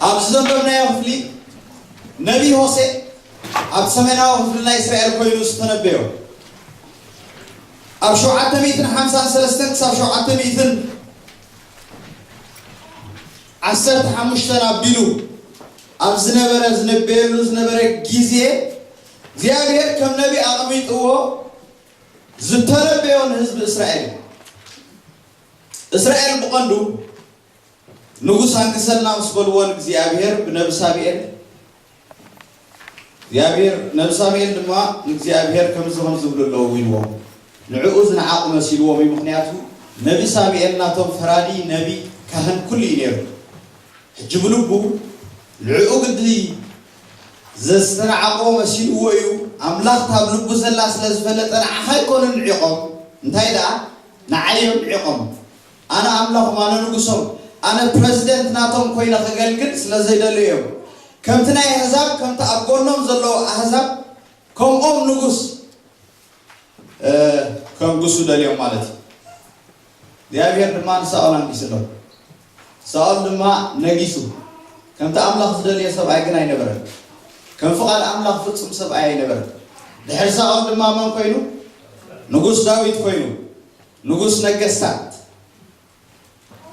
ኣብዚ ዘንበብናዮ ክፍሊ ነቢይ ሆሴእ ኣብ ሰሜናዊ ክፍሊ ናይ እስራኤል ኮይኑ ዝተነበዮ ኣብ ሸውዓተ ሚእትን ሓምሳን ሰለስተን ክሳብ ሸውዓተ ሚእትን ዓሰርተ ሓሙሽተን ኣቢሉ ኣብ ዝነበረ ዝነበየሉ ዝነበረ ግዜ እግዚኣብሔር ከም ነቢ ኣቕሚጥዎ ዝተረበዮ ንህዝቢ እስራኤል እዩ። እስራኤል ብቐንዱ ንጉስ ኣንግሰልና ምስ በልዎ ንእግዚኣብሔር ብነቢ ሳሙኤል እግዚኣብሔር ነቢ ሳሙኤል ድማ ንእግዚኣብሔር ከምዚ ከምዚ ዝብሉ ኣለዉ ኢልዎ ንዕኡ ዝነዓቑ መሲልዎም እዩ ምክንያቱ ነቢ ሳሙኤል ናቶም ፈራዲ ነቢ ካህን ኩሉ እዩ ነይሩ ሕጂ ብልቡ ንዕኡ ግዲ ዘዝተናዓቆ መሲልዎ እዩ ኣምላኽ እታ ኣብ ልቡ ዘላ ስለ ዝፈለጠ ንዓኻ ኣይኮኑን ንዒቆም እንታይ ደኣ ንዓይ እዮም ንዒቆም ኣነ ኣምላኾም ኣነ ንጉሶም ኣነ ፕረዚደንት ናቶም ኮይነ ከገልግል ስለ ዘይደልዩ እዮም ከምቲ ናይ ኣህዛብ ከምቲ ኣብ ጎኖም ዘለዉ ኣህዛብ ከምኦም ንጉስ ከንግሱ ደልዮም ማለት እዩ። እግዚኣብሄር ድማ ንሳኦል ኣንጊሱ ኣሎ። ሳኦል ድማ ነጊሱ። ከምቲ ኣምላኽ ዝደልዮ ሰብኣይ ግን ኣይነበረን። ከም ፍቓድ ኣምላኽ ፍጹም ሰብኣይ ኣይነበረን። ድሕሪ ሳኦል ድማ መን ኮይኑ? ንጉስ ዳዊት ኮይኑ። ንጉስ ነገስታት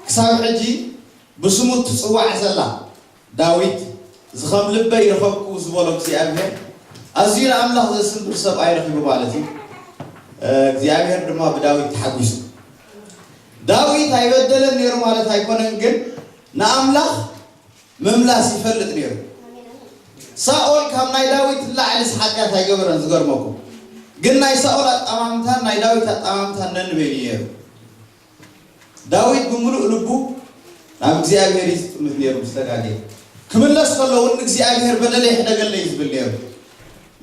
ክሳብ ሕጂ ብስሙ እትጽዋዕ ዘላ ዳዊት ዝኸም ልበይ ረኸብኩ ዝበሎ እግዚኣብሄር ኣዝዩ ንኣምላኽ ዘስምር ሰብኣይ ረኺቡ ማለት እዩ እግዚኣብሄር ድማ ብዳዊት ተሓጒሱ ዳዊት ኣይበደለን ነይሩ ማለት ኣይኮነን ግን ንኣምላኽ ምምላስ ይፈልጥ ነይሩ ሳኦል ካብ ናይ ዳዊት ላዕሊ ሓጢኣት ኣይገበረን ዝገርመኩም ግን ናይ ሳኦል ኣጠማምታን ናይ ዳዊት ኣጠማምታን ነንበይኑ ነይሩ ዳዊት ብምሉእ ልቡ ናብ እግዚኣብሄር እዩ ዝጥምት ነይሩ ምስ ተጋግየ ክምለስ ከሎ እውን ንእግዚኣብሄር በደለይ ሕደገለይ ዝብል ነይሩ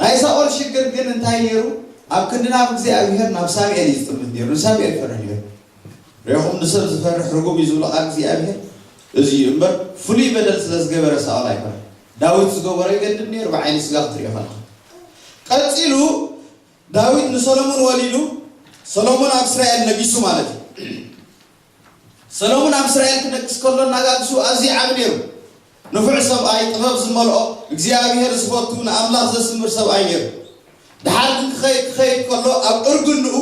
ናይ ሳኦል ሽግር ግን እንታይ ነይሩ ኣብ ክንዲ ናብ እግዚኣብሄር ናብ ሳሙኤል እዩ ዝጥምት ነይሩ ንሳሙኤል ፈርሕ ነይሩ ሪኹም ንሰብ ዝፈርሕ ርጉም እዩ ዝብሎ ቃል እግዚኣብሄር እዚ እዩ እምበር ፍሉይ በደል ስለ ዝገበረ ሳኦል ኣይኮነ ዳዊት ዝገበሮ ይገድም ነይሩ ብዓይኒ ስጋ ክትሪኦ ከለካ ቀፂሉ ዳዊት ንሰሎሙን ወሊዱ፣ ሰሎሙን ኣብ እስራኤል ነጊሱ ማለት እዩ። ሰሎሙን ኣብ እስራኤል ክነግስ ከሎ ኣነጋግሱ ኣዝዩ ዓቢ ነይሩ። ንፉዕ ሰብኣይ፣ ጥበብ ዝመልኦ፣ እግዚኣብሄር ዝፈቱ፣ ንኣምላኽ ዘስምር ሰብኣይ ነይሩ። ደሓር ግን ክኸይድ ክኸይድ ከሎ ኣብ እርግንኡ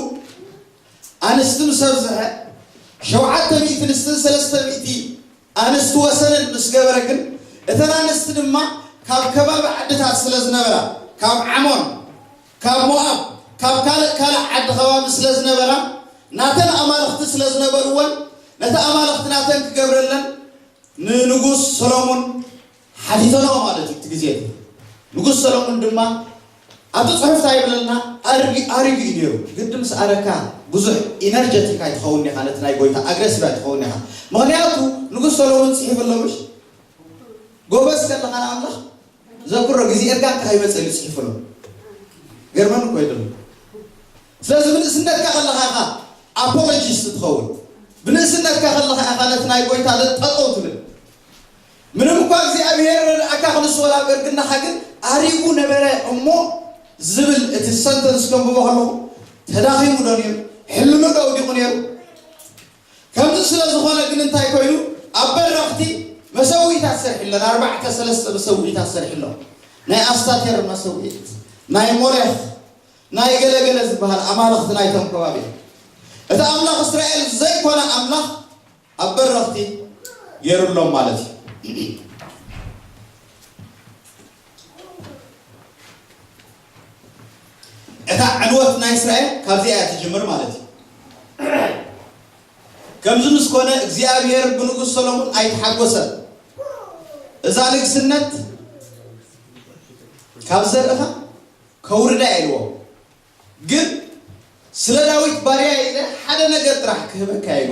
ኣንስቲ ምስ ኣብዝሐ ሸውዓተ ሚእቲ ንስትን ሰለስተ ሚእቲ ኣንስቲ ወሰነን ምስ ገበረ ግን እተን ኣንስቲ ድማ ካብ ከባቢ ዓድታት ስለ ዝነበራ ካብ ዓሞን ካብ ሞኣብ ካብ ካልእ ካልእ ዓዲ ከባቢ ስለ ዝነበራ ናተን ኣማልኽቲ ስለ ዝነበርወን ነቲ ኣማልኽቲ ናተን ክገብረለን ንንጉስ ሰሎሙን ሓቲተንኦ ማለት እዩ እቲ ግዜ እቲ። ንጉስ ሰሎሙን ድማ ኣብቲ ጽሑፍ ታይ ይብለልና ኣርግ ኣሪጉ እዩ ነይሩ ግዲ ምስ ኣረካ ብዙሕ ኢነርጀቲክ ኣይትኸውንን ኢኻ ነቲ ናይ ጎይታ ኣግረሲቭ ኣይትኸውንን ኢኻ ምኽንያቱ ንጉስ ሰሎሙን ጽሒፉ ኣሎ ምሽ ጎበዝ ከለኻ ንኣምላኽ ዘክሮ ግዜ እርጋን ከ ይመጽእ ኢሉ ጽሒፉ ኣሎ ገርመን እኮ ይደሉ ስለዚ ብንእስነትካ ከለኻ ኢኻ ኣፖሎጂስት ትኸውን ብንእስነትካ ከለኻ ኢኻ ነቲ ናይ ጎይታ ጠጠው ትብል ምንም እኳ እግዚኣብሔር ረድኣካ ክንሱ ወላ በርግናካ ግን ኣሪጉ ነበረ እሞ ዝብል እቲ ሰንተንስ ከንብቦ ከለኹ ተዳኺሙ ዶ ነይሩ ሕልኑ ዶ ውዲቑ ነይሩ ከምዚ ስለ ዝኾነ ግን እንታይ ኮይኑ ኣብ በረኽቲ መሰዊኢታት ሰርሒ ኣለና ኣርባዕተ ሰለስተ መሰዊኢታት ሰርሒ ኣሎ ናይ ኣስታቴር መሰዊኢት ናይ ሞሌኽ ናይ ገለገለ ዝበሃል ኣማልኽቲ ናይቶም ከባቢ እቲ ኣምላኽ እስራኤል ዘይኮነ ኣምላኽ ኣብ በረኽቲ ገይሩሎም ማለት እዩ። እታ ዕንወት ናይ እስራኤል ካብዚኣ እያ ትጅምር ማለት እዩ። ከምዚ ምስ ኮነ እግዚኣብሔር ብንጉስ ሰሎሞን ኣይተሓጎሰን። እዛ ንግስነት ካብ ዘርእኻ ከውርዳ ኢልዎ። ግን ስለ ዳዊት ባርያይ ኢለ ሓደ ነገር ጥራሕ ክህበካ እየ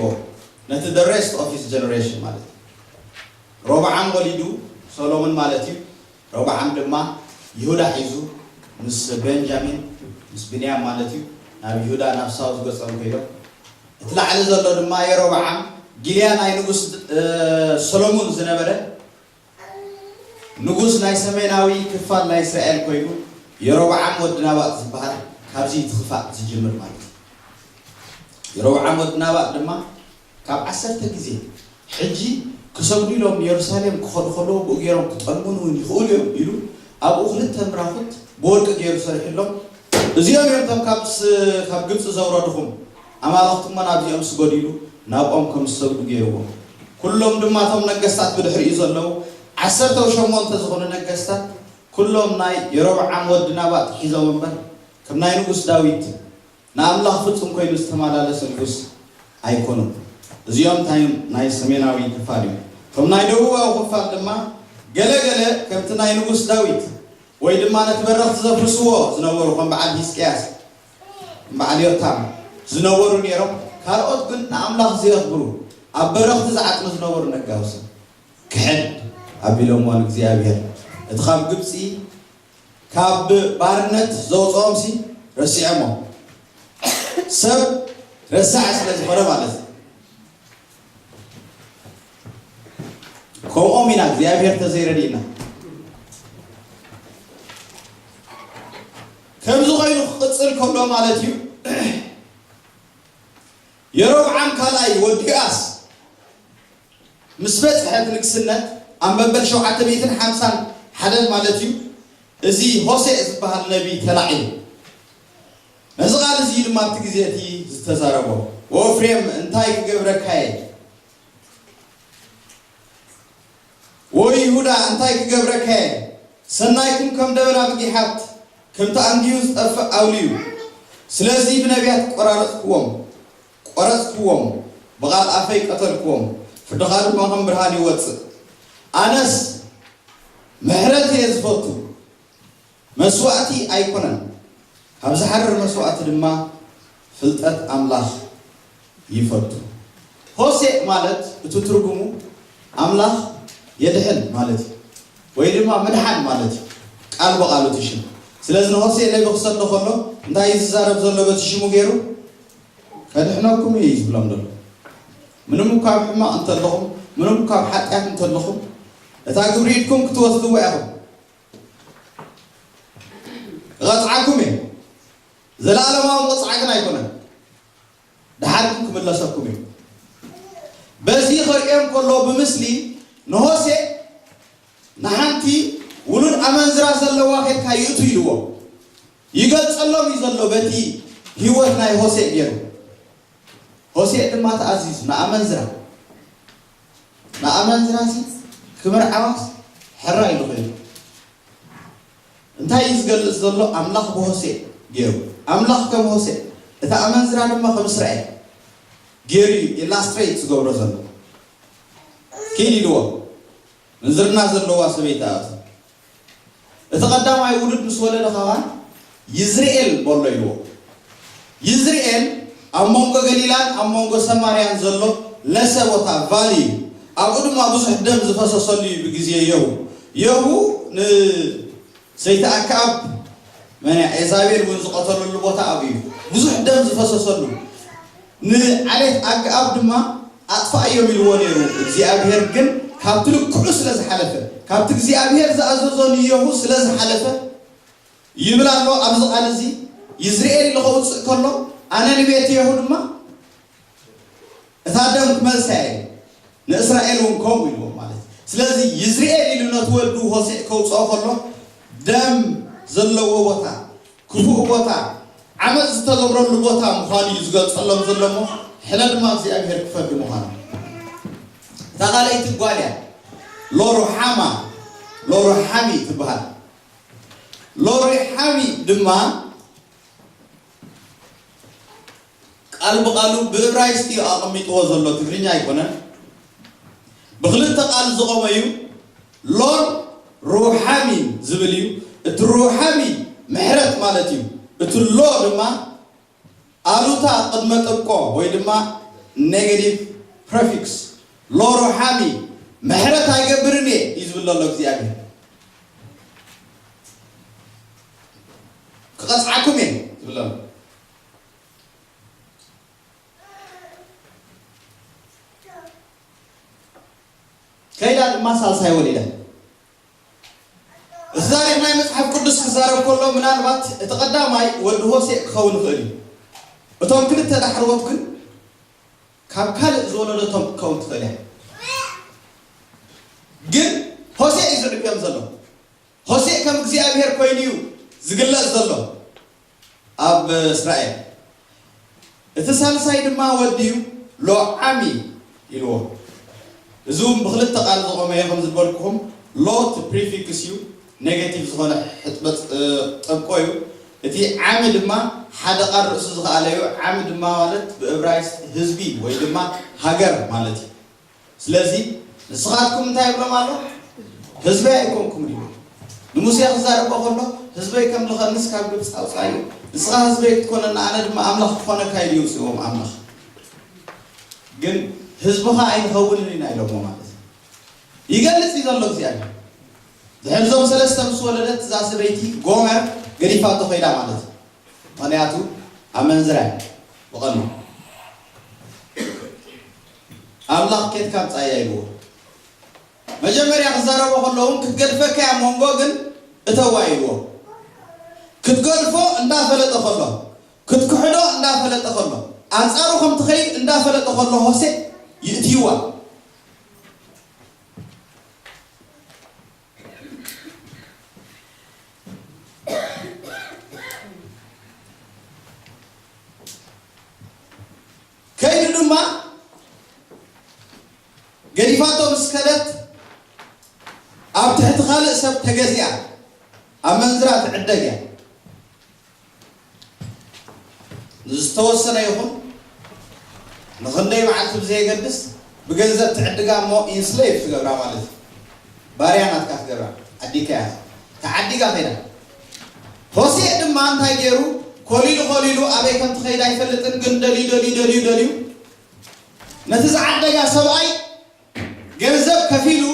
ን ነቲ the rest of his generation ማለት እዩ ሮብዓም ወሊዱ ሶሎምን ማለት እዩ ሮብዓም ድማ ይሁዳ ሒዙ ምስ ቤንጃሚን ምስ ብንያም ማለት እዩ ናብ ይሁዳ ናብ ሳውዝ ገጾም ኮይዶም እቲ ላዕሊ ዘሎ ድማ የሮብዓም ጊልያ ናይ ንጉስ ሰሎሙን ዝነበረ ንጉስ ናይ ሰሜናዊ ክፋል ናይ እስራኤል ኮይኑ የሮብዓም ወዲ ናባጥ ዝበሃል ካብዚ እቲ ክፋእ ዝጅምር ማለት እዩ የሮብዓም ወዲ ናባጥ ድማ ካብ ዓሰርተ ግዜ ሕጂ ክሰግዱ ኢሎም ንየሩሳሌም ክኸዱ ከለዉ ብኡ ገይሮም ክጠልሙን እውን ይኽእሉ እዮም ኢሉ ኣብኡ ክልተ ምራኹት ብወርቂ ገይሩ ሰሪሑሎም እዚኦም እዮም እቶም ካብ ግብፂ ዘውረድኹም ኣማልኽቲ'ሞ ናብዚኦምስ ጐዲሉ ናብኦም ከም ዝሰግዱ ገይርዎም። ኵሎም ድማ እቶም ነገስታት ብድሕሪኡ ዘለዉ ዓሰርተው ሸሞንተ ዝዀኑ ነገስታት ኵሎም ናይ የሮብዓም ወዲ ናባጥ ሒዞም እምበር ከም ናይ ንጉስ ዳዊት ንኣምላኽ ፍጹም ኰይኑ ዝተመላለሰ ንጉስ ኣይኰኑን። እዚኦም እቶም ናይ ሰሜናዊ ክፋል እዮም። እቶም ናይ ደቡባዊ ክፋል ድማ ገለ ገለ ከምቲ ናይ ንጉስ ዳዊት ወይ ድማ ነቲ በረኽቲ ዘፍርስዎ ዝነበሩ ከም በዓል ሂዝቅያስ ማዕልዮታም ዝነበሩ ነይሮም ካልኦት ግን ንኣምላኽ ዘየኽብሩ ኣብ በረኽቲ ዝዓጥኑ ዝነበሩ ነጋውሲ ክሕድ ኣቢሎምዎ ንእግዚኣብሔር እቲ ካብ ግብጺ ካብ ባርነት ዘውጽኦምሲ ረሲዖሞ ሰብ ረሳዕ ስለ ዝኾነ ማለት እዩ ከምኦም ኢና እግዚኣብሔር ተዘይረድእና ከምዚ ዀይኑ ኺቕጽል ከሎ ማለት እዩ፣ የሮብዓም ካልኣይ ወዲ ኣስ ምስ በጽሐ እቲ ንግስነት ኣብ መበል ሸውዓተ ሚእትን ሓምሳን ሓደን ማለት እዩ፣ እዚ ሆሴእ ዚብሃል ነብዪ ተላዒሉ። ነዚ ቓል እዚ እዩ ድማ ኣብቲ ግዜ እቲ ዝተዛረቦ፣ ወእፍሬም እንታይ ክገብረካ እየ? ዎይ ይሁዳ እንታይ ክገብረካየ ሰናይኩም ከም ደበና ብጊሓት ከምቲ ኣንጊሁ ዝጠፍእ ኣውሊዩ ስለዚ ብነብያት ቆራረጽክዎም ቆረጽክዎም ብቓል ኣፈይ ቀተልክዎም ፍርድኻ ድማ ከም ብርሃን ይወጽእ ኣነስ ምሕረት እየ ዝፈቱ መስዋእቲ ኣይኮነን፣ ካብ ዝሓርር መስዋእቲ ድማ ፍልጠት ኣምላኽ ይፈቱ። ሆሴእ ማለት እቲ ትርጉሙ ኣምላኽ የድሕን ማለት እዩ፣ ወይ ድማ ምድሓን ማለት እዩ ቃል ብቓሉ እቲ ሽም። ስለዚ ንሆሴእ ነቢ ክሰዶ ከሎ እንታይ እዩ ዝዛረብ ዘሎ በቲ ሽሙ ገይሩ? ከድሕነኩም እዩ እዩ ዝብሎም ዘሎ። ምንም እኳ ኣብ ሕማቕ እንተለኹም፣ ምንም እኳ ኣብ ሓጢኣት እንተለኹም፣ እታ ግብሪ ኢድኩም ክትወስድዋ ኢኹም። እቐጽዓኩም እየ፣ ዘለኣለማዊ ምቕጻዕ ግን ኣይኮነን፣ ደሓር ግን ክምለሰኩም እዩ። በዚ ከርእዮም ከሎ ብምስሊ ንሆሴእ ንሓንቲ ውሉድ ኣመንዝራ ዘለዋ ኬድካ ይእቱ ኢልዎ ይገልጸሎም እዩ ዘሎ በቲ ህይወት ናይ ሆሴእ ገይሩ ሆሴእ ድማ ተኣዚዙ ንኣመንዝራ ንኣመንዝራሲ ክምርዓዋስ ሕራይ ዶ ኮይኑ እንታይ እዩ ዝገልጽ ዘሎ ኣምላኽ ብሆሴእ ጌሩ ኣምላኽ ከም ሆሴእ እታ ኣመንዝራ ድማ ከም እስራኤል ጌሩ እዩ ኢላስትሬት ዝገብሮ ዘሎ ኪድ ኢልዎ ምንዝርና ዘለዋ ሰበይቲ እያ እዛ። እቲ ቀዳማይ ውሉድ ምስ ወለደ ኸኣ ይዝርኤል በሎ ኢልዎ። ይዝርኤል ኣብ መንጎ ገሊላን ኣብ መንጎ ሰማርያን ዘሎ ለሰ ቦታ፣ ቫሊ፣ እዩ። ኣብኡ ድማ ብዙሕ ደም ዝፈሰሰሉ እዩ ብግዜ የሁ። የሁ ን ሰይቲ ኣከኣብ መን እያ? ኤዛቤል እውን ዝቐተለሉ ቦታ ኣብኡ እዩ፣ ብዙሕ ደም ዝፈሰሰሉ። ንዓሌት ኣከኣብ ድማ ኣጥፍኣዮም ኢልዎ ነይሩ፣ እግዚኣብሄር ግን ካብቲ ልክዑ ስለ ዝሓለፈ፣ ካብቲ እግዚኣብሄር ዝኣዘዞ ንየሁ ስለ ዝሓለፈ፣ ይብል ኣሎ ኣብዚ ቓል እዚ፣ ይዝርኤል ኢሉ ኸውጽእ ከሎ፣ ኣነ ንቤት የሁ ድማ፣ እታ ደም ክመልሳ እየ፣ ንእስራኤል እውን ከምኡ ኢልዎም ማለት እዩ። ስለዚ ይዝርኤል ኢሉ ነቲ ወዱ ሆሴዕ ከውጽኦ ከሎ ደም ዘለዎ ቦታ፣ ክፉእ ቦታ፣ ዓመጽ ዝተገብረሉ ቦታ ምዃኑ እዩ ዝገልጸሎም ዘሎ እሞ ሕነ ድማ እግዚኣብሄር ክፈርድ ምዃኑ። እታ ካልኣይቲ ጓል እያ፣ ሎሩሓማ ሎሩሓሚ ትበሃል። ሎሩሓሚ ድማ ቃል ብቓሉ ብእብራይስጢ እዩ ኣቐሚጥዎ ዘሎ ትግርኛ ኣይኮነን። ብኽልተ ቃል ዝቖመ እዩ ሎን ሩሓሚን ዝብል እዩ። እቲ ሩሓሚ ምሕረት ማለት እዩ። እቲ ሎ ድማ ኣሉታ ቅድመ ጥብቆ ወይ ድማ ኔገቲቭ ፕረፊክስ ሎ ሩሓሚ ምሕረት ኣይገብርን እየ እዩ ዝብል ዘሎ እግዚኣብሔር ክቐጽዓኩም እየ ዝብል ዘሎ ከይዳ ድማ ሳልሳይ ወሊዳ እዚ ታሪክ ናይ መፅሓፍ ቅዱስ ክዛረብ ከሎ ምናልባት እቲ ቀዳማይ ወዲ ሆሴእ ክኸውን ይኽእል እዩ እቶም ክልተ ዳሕረዎት ግን ካብ ካልእ ዝወለደቶም ክትከውን ትኽእል እያ ግን ሆሴእ እዩ ዝዕብዮም ዘሎ ሆሴእ ከም እግዚኣብሄር ኮይኑ እዩ ዝግለጽ ዘሎ ኣብ እስራኤል። እቲ ሳልሳይ ድማ ወዲ እዩ፣ ሎ-ዓሚ ኢልዎ። እዚ እውን ብኽልተ ቃል ዝቖመ እዩ፣ ከም ዝበልኩኹም ሎ እቲ ፕሪፊክስ እዩ፣ ኔጋቲቭ ዝኾነ ሕጥበጽ ጠብቆ እዩ። እቲ ዓሚ ድማ ሓደ ቃል ርእሱ ዝኸኣለ እዩ፣ ዓሚ ድማ ማለት ብእብራይስጥ ህዝቢ ወይ ድማ ሃገር ማለት እዩ። ስለዚ ንስኻትኩም እንታይ ይብሎም ኣሎ? ህዝበይ ኣይኮንኩምን ኢዩ። ንሙሴ ክዛረቦ ከሎ ህዝበይ ከምልኸንስ ካብ ግብጺ ኣውጻኣዮ። ንስኻ ህዝበይ ክትኮነኒ ኣነ ድማ ኣምላኽ ክኾነካ ኢሉ የውጽእዎም ኣምላኽ። ግን ህዝብኻ ኣይንኸውንን ኢና ኢሎሞ ማለት እዩ። ይገልጽ እዩ ዘሎ እግዚኣብሔር። ድሕሪ እዞም ሰለስተ ምስ ወለደት እዛ ሰበይቲ ጎመር ገዲፋቶ ከይዳ ማለት እዩ። ምክንያቱ ኣመንዝራ እያ ብቐንዱ። ኣምላኽ ኬድካ ምጻያ ኢልዎ መጀመርያ ክዛረቦ ከሎ ውን ክትገድፈካ እያ ሞንጎ ግን እተዋ ኢልዎ ክትገድፎ እንዳ ፈለጠ ከሎ ክትክሕዶ እንዳ ፈለጠ ከሎ ኣንጻሩ ከም ትኸይድ እንዳ ፈለጠ ከሎ ሆሴእ ይእትይዋ ከይዱ ድማ ገዲፋቶ ምስ ከደት ኣብ ትሕቲ ካልእ ሰብ ተገዚኣ ኣመንዝራ ትዕደግ እያ። ንዝተወሰነ ይኹን ንኽንደይ መዓልቲ ብዘየገድስ ብገንዘብ ትዕድጋ እሞ ኢንስሌቭ ትገብራ ማለት እዩ። ባርያ ናትካ ትገብራ። ዓዲግካያ ኢኻ። ተዓዲጋ ከይዳ። ሆሴእ ድማ እንታይ ገይሩ ኮሊሉ ኮሊሉ ኣበይ ከም ትኸይድ ኣይፈልጥን ግን ደልዩ ደልዩ ደልዩ ደልዩ ነቲ ዝዓደጋ ሰብኣይ ገንዘብ ከፊሉ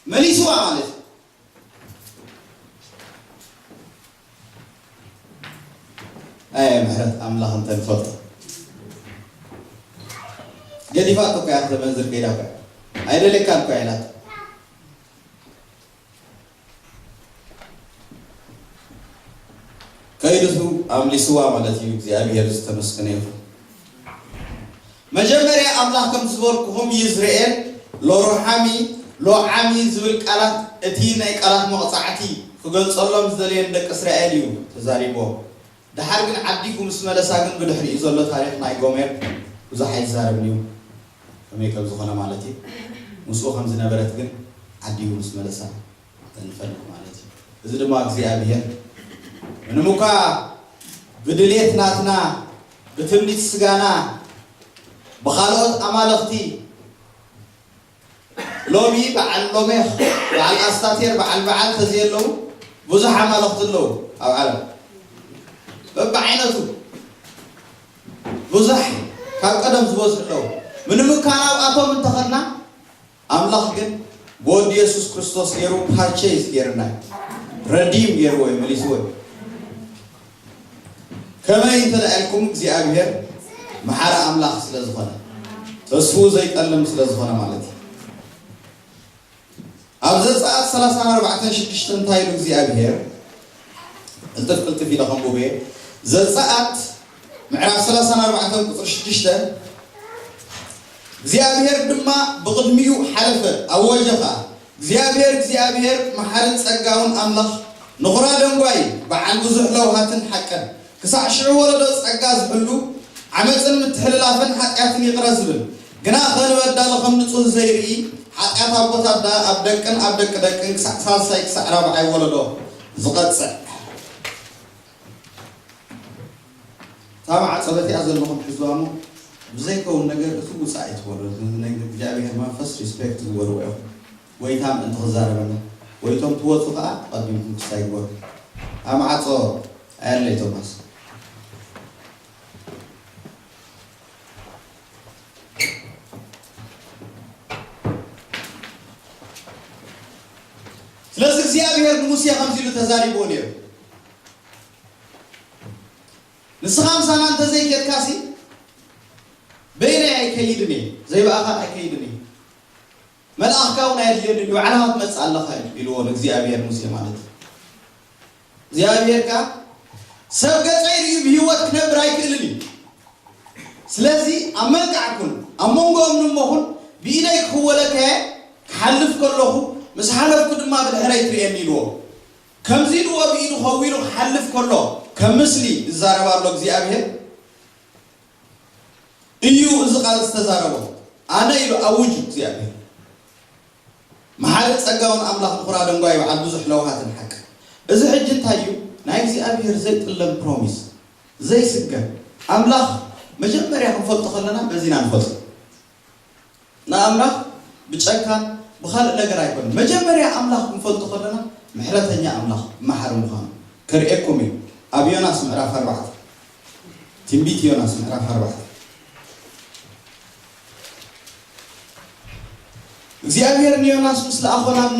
መሊስዋ ማለት እዩ። ኣየ ምሕረት ኣምላኽ እንተ ንፈልጦ ገዲፋቶ እኮ እያ ክተመንዝር ከይዳ እኮ እያ ኣይደልየካን እኮ እያ ኢላቶ ከይድሑ ኣምሊስዋ ማለት እዩ እግዚኣብሔር ዝተመስገነ ይኹን። መጀመርያ ኣምላኽ ከምቲ ዝበልኩኹም ይዝርኤል ሎሩሓሚ ሎዓሚ ዝብል ቃላት እቲ ናይ ቃላት መቕጻዕቲ ክገልጸሎም ዝደለየ ንደቂ እስራኤል እዩ ተዛሪብዎም ደሓር ግን ዓዲጉ ምስ መለሳ ግን ብድሕሪኡ ዘሎ ታሪኽ ናይ ጎሜር ብዙሕ ኣይዛረብን እዩ። ከመይ ከም ዝኾነ ማለት እዩ። ምስኡ ከም ዝነበረት ግን ዓዲጉ ምስ መለሳ እንፈልጥ ማለት እዩ። እዚ ድማ እግዚኣብሄር ምንም እኳ ብድሌት ናትና፣ ብትምኒት ስጋና፣ ብኻልኦት ኣማልኽቲ፣ ሎሚ በዓል ሎሜኽ፣ በዓል ኣስታቴር፣ በዓል በዓል ተዘየለዉ ብዙሕ ኣማልኽቲ ኣለዉ ኣብ ዓለም በብዓይነቱ። ቡዛሕ እዩ ካብ ቀደም ዝበዝሑ ምንም እካ ናብኣቶም እንተኸድና ኣምላኽ ግን ብወዱ የሱስ ክርስቶስ ገሩ ፓርቸይዝ ገርና እዩ ረዲም ገርዎ እዩ መሊስዎ እዩ ከመይ እንተልኣልኩም እግዚኣብሄር መሓሪ ኣምላኽ ስለ ዝኾነ ተስፉኡ ዘይጠልም ስለ ዝኾነ ማለት እዩ ኣብ ዘጸኣት ሰላሳን ኣርባዕተን ሽዱሽተ እንታይ ኢሉ እግዚኣብሄር? ቅልጥፍ ቅልጥፍ ኢለ ከንቡብ እየ። ዘጸኣት ምዕራፍ ሰላሳን ኣርባዕተን ቁጽሪ ሽዱሽተ እግዚኣብሄር ድማ ብቕድሚኡ ሓለፈ፣ ኣወጀ ኸኣ፣ እግዚኣብሄር እግዚኣብሄር መሓርን ጸጋውን ኣምላኽ፣ ንዅራ ደንጓይ፣ በዓል ብዙሕ ለውሃትን ሓቅን፣ ክሳዕ ሽዑ ወለዶ ጸጋ ዝሕሉ፣ ዓመጽን ምትሕልላፍን ሓጢኣትን ይቕረ ዝብል፣ ግናኸ ንበዳሊ ከም ንጹህ ዘይርኢ፣ ሓጢኣት ኣቦት ኣደ ኣብ ደቅን ኣብ ደቂ ደቅን ክሳዕ ሳልሳይ ክሳዕ ራብዓይ ወለዶ ዝቐጽዕ። እታ ማዕጾ በቲኣ ዘለኹም ሕዝዋ እሞ ብዘይከውን ነገር እትውጽእ ኣይትበሉ። እዚ ናይ እግዚኣብሄር መንፈስ ሪስፔክት ግበርዎ ኢኹም። ጎይታ ምእንቲ ክዛረበና ጎይቶም ትወጹ ከኣ ተቀዲምኩም ክሳይግበሩ ኣብ መዓጾ ኣያለይ ቶማስ። ስለዚ እግዚኣብሄር ንሙሴ ከምዚ ኢሉ ተዛሪብዎ ነይሩ ንስኻ ምሳና እንተዘይኬድካሲ በይነይ ኣይከይድን እየ ዘይብኣኻ ኣይከይድን እየ። መልኣኽ ካውኡ ናይ ኣድልዮ ድዩ ባዕልኻ ትመጽእ ኣለኻ እዩ ኢልዎ ንእግዚኣብሄር ሙሴ ማለት እዩ እግዚኣብሄር ከኣ ሰብ ገጸይ ርእዩ ብህይወት ክነብር ኣይክእልን እዩ ስለዚ ኣብ መንቃዕ ኩን ኣብ መንጎኦም ንሞ ኩን ብኢደይ ክኽወለካ እየ ክሓልፍ ከለኹ ምስ ሓለፍኩ ድማ ብድሕረይ ትርእየኒ ኢልዎ ከምዚ ኢልዎ ብኢዱ ኸዊሉ ክሓልፍ ከሎ ከም ምስሊ ይዛረብ ኣሎ እግዚኣብሄር እዩ እዚ ቃል ዝተዛረቦ ኣነ ኢሉ ኣውጅ እግዚኣብሔር መሓሪ ጸጋውን ኣምላኽ ምኹራ ደንጓይ በዓል ብዙሕ ለውሃትን ሓቂ እዚ ሕጂ እንታይ እዩ ናይ እግዚኣብሔር ዘይጥለም ፕሮሚስ ዘይስገር ኣምላኽ መጀመርያ ክንፈልጦ ከለና በዚና ንፈልጦ ንኣምላኽ ብጨካን ብኻልእ ነገር ኣይኮነን መጀመርያ ኣምላኽ ክንፈልጦ ከለና ምሕረተኛ ኣምላኽ መሓሪ ምዃኑ ከርእየኩም እዩ ኣብ ዮናስ ምዕራፍ ኣርባዕተ ትንቢት ዮናስ ምዕራፍ ኣርባዕተ እግዚኣብሔር ንዮናስ ምስ ለኣኾ ናብ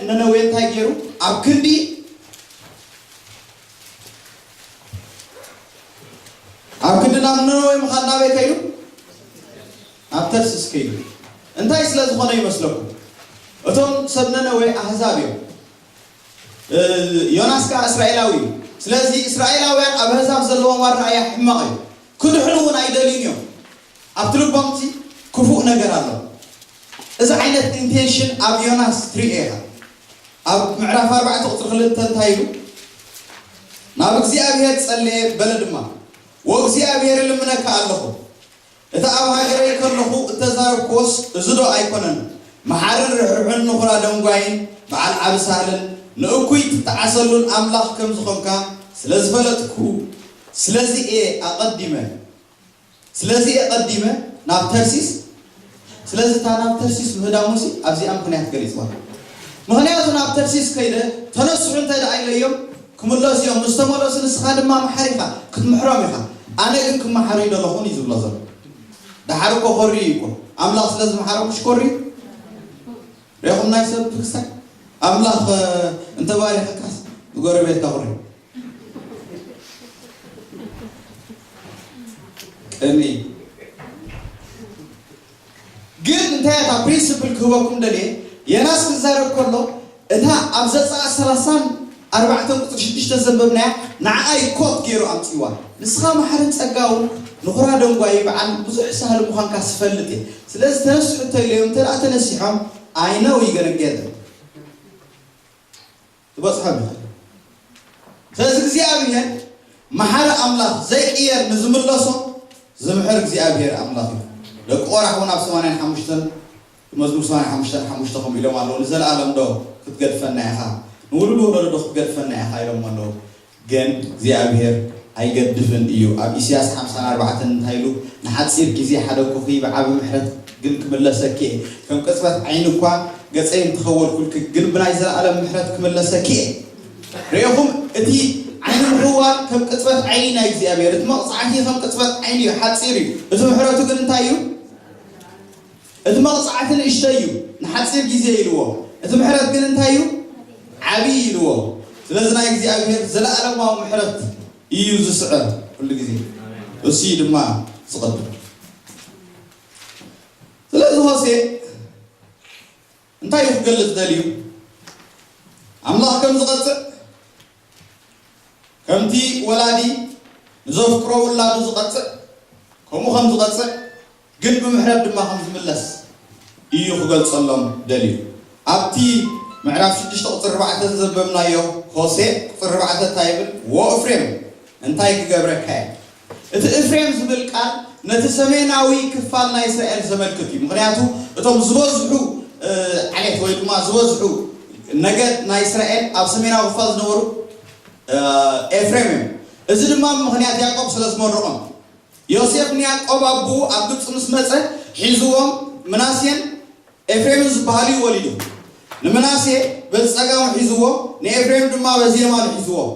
ነነዌ እንታይ ገይሩ ኣብ ክንዲ ኣብ ግዲ ናብ ነነዌ ምኻድ ናበይ ከይዱ? ናብ ተርሲስ ከይዱ። እንታይ ስለ ዝኾነ ይመስለኩም? እቶም ሰብ ነነዌ ኣህዛብ እዮም፣ ዮናስ ከዓ እስራኤላዊ እዩ። ስለዚ እስራኤላውያን ኣብ ኣህዛብ ዘለዎም ኣረኣእያ ሕማቕ እዩ። ክድሕኑ እውን ኣይደልዩን እዮም። ኣብቲ ልቦም እቲ ክፉእ ነገር ኣሎ። እዚ ዓይነት ኢንቴንሽን ኣብ ዮናስ ትርኢ ኢኻ። ኣብ ምዕራፍ ኣርባዕተ ቁፅሪ ክልተ እንታይ ኢሉ ናብ እግዚኣብሔር ጸለየ በለ ድማ ወእግዚኣብሔር እልምነካ ኣለኹ እቲ ኣብ ሃገረይ ከለኹ እተዛረብክዎስ እዚ ዶ ኣይኮነን መሓርን ርሕርሑን ንኹራ ደንጓይን በዓል ዓቢ ሳህልን ንእኩይ ትጠዓሰሉን ኣምላኽ ከም ዝኾንካ ስለ ዝፈለጥኩ ስለዚ እየ ኣቐዲመ ስለዚ እየ ቀዲመ ናብ ተርሲስ ስለዚ እታ ናብ ተርሲስ ምህዳሙሲ ኣብዚኣ ምኽንያት ገሊጽዋ ምኽንያቱ ናብ ተርሲስ ከይደ ተነስሑ እንተ ደኣ ኢለዮም ክምለሱ እዮም ምስ ተመለሱ ንስኻ ድማ መሓሪ ኢኻ ክትምሕሮም ኢኻ ኣነ ግን ክመሓሩ ኣይደለኹን እዩ ዝብሎ ዘሎ ደሓር እኮ ኮርዩ እዩ እኮ ኣምላኽ ስለ ዝመሓሮም ምሽ ኮርዩ ሬኹም ናይ ሰብ ትግስታ ኣምላኽ እንተባሪኸካስ ንጎረቤትካ ኩሪ ቅንኢ ግን እንታይ እታ ፕሪንስፕል ክህበኩም ደልየ የናስ ክዛረብ ከሎ እታ ኣብ ዘጻኣ ሰላሳን ኣርባዕተን ቁጽሪ ሽዱሽተ ዘንበብናያ ንዓኣ እዩ ኮት ገይሩ ኣምጺእዋ ንስኻ መሓርን ጸጋውን ንኹራ ደንጓዪ በዓል ብዙሕ ሳህሊ ምዃንካስ ይፈልጥ እየ ስለዚ ተነሱ ሕቶ ኢለዮም እንተ ተነሲሖም i know you're gonna get it ክበጽሖ ንኽእል ስለዚ እግዚኣብሄር መሓሪ ኣምላኽ ዘይቅየር ንዝምለሶ ዝምሕር እግዚኣብሄር ኣምላኽ እዩ ደቂ ቆራሕ ውን ኣብ ሰማንያን ሓሙሽተን መዝሙር ሰማንያን ሓሙሽተን ሓሙሽተ ከምኡ ኢሎም ኣለዉ ንዘለኣለም ዶ ክትገድፈና ኢኻ ንውሉድ ወለዶ ዶ ክትገድፈና ኢኻ ኢሎሞ ኣለዉ ግን እግዚኣብሄር ኣይገድፍን እዩ ኣብ ኢስያስ ሓምሳን ኣርባዕተን እንታይ ኢሉ ንሓጺር ግዜ ሓደኩኪ ብዓቢ ምሕረት ግን ክምለሰኪ እየ ከም ቅጽበት ዓይኒ እኳ ገጸይ እንተከወልኩልኪ ግን ብናይ ዘላኣለም ምሕረት ክምለሰኪ እየ ሬኩም እቲ ዓይኒ ምክዋል ከም ቅጽበት ዓይኒ ናይ እግዚኣብሄር እቲ መቅጻዕቲ ከም ቅጽበት ዓይኒ እዩ ሓጺር እዩ እቲ ምሕረቱ ግን እንታይ እዩ እቲ መቕጻዕቲ ንእሽተይ እዩ፣ ንሓጺር ጊዜ ኢልዎ፣ እቲ ምሕረት ግን እንታይ እዩ? ዓቢይ ኢልዎ። ስለዚ ናይ እግዚኣብሄር ዘለኣለማዊ ምሕረት እዩ ዝስዕር ኩሉ ጊዜ። እሱ እዩ ድማ ዝቕድም። ስለዚ ሆሴእ እንታይ እዩ ክገልጽ ደልዩ? ኣምላኽ ከም ዝቐጽዕ ከምቲ ወላዲ ንዘፍቅሮ ውላዱ ዝቐጽዕ ከምኡ ከም ዝቐጽዕ ግን ብምሕረት ድማ ከም ዝምለስ ኢዩ ክገልጸሎም ደልዩ። ኣብቲ ምዕራፍ ሽዱሽተ ቁጽሪ ኣርባዕተ ዘዘንበብናዮ ሆሴእ ቁጽሪ ኣርባዕተ እንታይ ይብል ዎ እፍሬም እንታይ ክገብረካ እየ እቲ እፍሬም ዝብል ቃል ነቲ ሰሜናዊ ክፋል ናይ እስራኤል ዘመልክት እዩ ምክንያቱ እቶም ዝበዝሑ ዓሌት ወይ ድማ ዝበዝሑ ነገድ ናይ እስራኤል ኣብ ሰሜናዊ ክፋል ዝነበሩ ኤፍሬም እዮም እዚ ድማ ምክንያት ያዕቆብ ስለ ዝመርቆም ዮሴፍ ንያእቆብ ኣቦኡ ኣብ ግብጺ ምስ መጸ፣ ሒዝዎም፣ ምናሴን ኤፍሬምን ዝበሃሉ እዩ ወሊዱ። ንምናሴ በዚ ጸጋሙ ሒዝዎ፣ ንኤፍሬም ድማ በዚ የማኑ ሒዝዎም።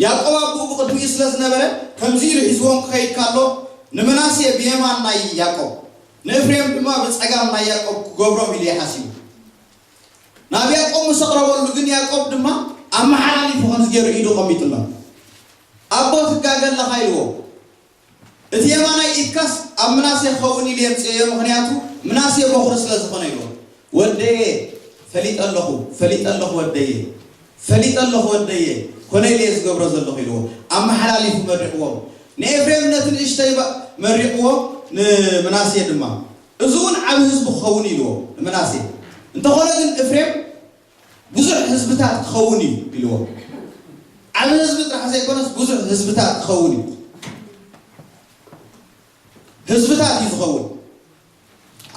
ያእቆብ ኣቦኡ ብቕድሚኡ ስለ ዝነበረ፣ ከምዚ ኢሉ ሒዝዎም ክኸይድ ከሎ፣ ንምናሴ ብየማን ናይ ያእቆብ፣ ንእፍሬም ድማ ብጸጋም ናይ ያእቆብ ክገብሮም ኢሉ እዩ ሓሲቡ። ናብ ያእቆብ ምስ ኣቕረበሉ ግን ያእቆብ ድማ ኣመሓላሊፉ ከምዚ ገይሩ ኢዱ ኣቐሚጡሎም። ኣቦ ትጋገ ኣለኻ ኢልዎ። እቲ የማናይ ኢድካስ ኣብ ምናሴ ክኸውን ኢሉ የምጽኤዮ ምኽንያቱ ምናሴ ቦኽሪ ስለ ዝኾነ ኢልዎ። ወደየ ፈሊጠ ኣለኹ ፈሊጠ ኣለኹ ወደየ ፈሊጠ ኣለኹ ወደየ ኮነ ኢለየ ዝገብሮ ዘለኹ ኢልዎ። ኣመሓላሊፉ መሪቕዎም። ንኤፍሬም ነቲ ንእሽተይ መሪቕዎ ንምናሴ ድማ እዚውን ዓቢ ህዝቢ ክኸውን ኢልዎ ንምናሴ እንተኾነ ግን እፍሬም ብዙሕ ህዝብታት ክኸውን እዩ ኢልዎ። ዓቢ ህዝቢ ጥራሕ ዘይኮነስ ብዙሕ ህዝብታት ክኸውን እዩ። ህዝብታት እዩ ዝኸውን።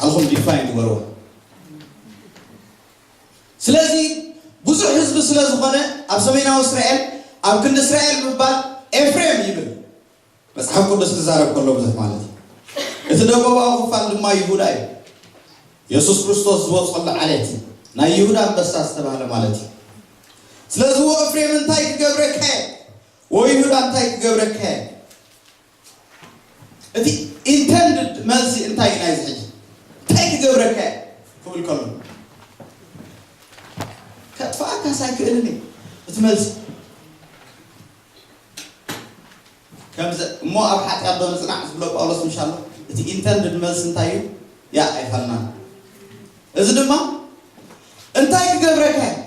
ዓልኹም ዲፋይን ግበርዋ። ስለዚ ብዙሕ ህዝቢ ስለ ዝኾነ ኣብ ሰሜናዊ እስራኤል ኣብ ክንዲ እስራኤል ምባል ኤፍሬም ይብል። መጽሓፍ ቅዱስ ክዛረብ ከሎ ብዙሕ ማለት እዩ። እቲ ደቡባዊ ክፋል ድማ ይሁዳ እዩ። የሱስ ክርስቶስ ዝወጸሉ ዓሌት እዩ። ናይ ይሁዳ ኣንበሳ ዝተባህለ ማለት እዩ። ስለዚ ወ እፍሬም እንታይ ክገብረካ እየ ወ ይሁዳ እንታይ ክገብረካ እየ እቲ ኢንተንድድ መልሲ እንታይ እዩ ናይዚ ሕጂ እንታይ ክገብረካ እየ ክብል ከሎ ከጥፋኣካስ ኣይክእልን እዩ እቲ መልሲ ከምዘ እሞ ኣብ ሓጢኣት ዶ ንጽናዕ ዝብሎ ጳውሎስ ምሽ ኣሎ እቲ ኢንተንድድ መልሲ እንታይ እዩ ያእ ኣይፋልናን እዚ ድማ እንታይ ክገብረካ እዩ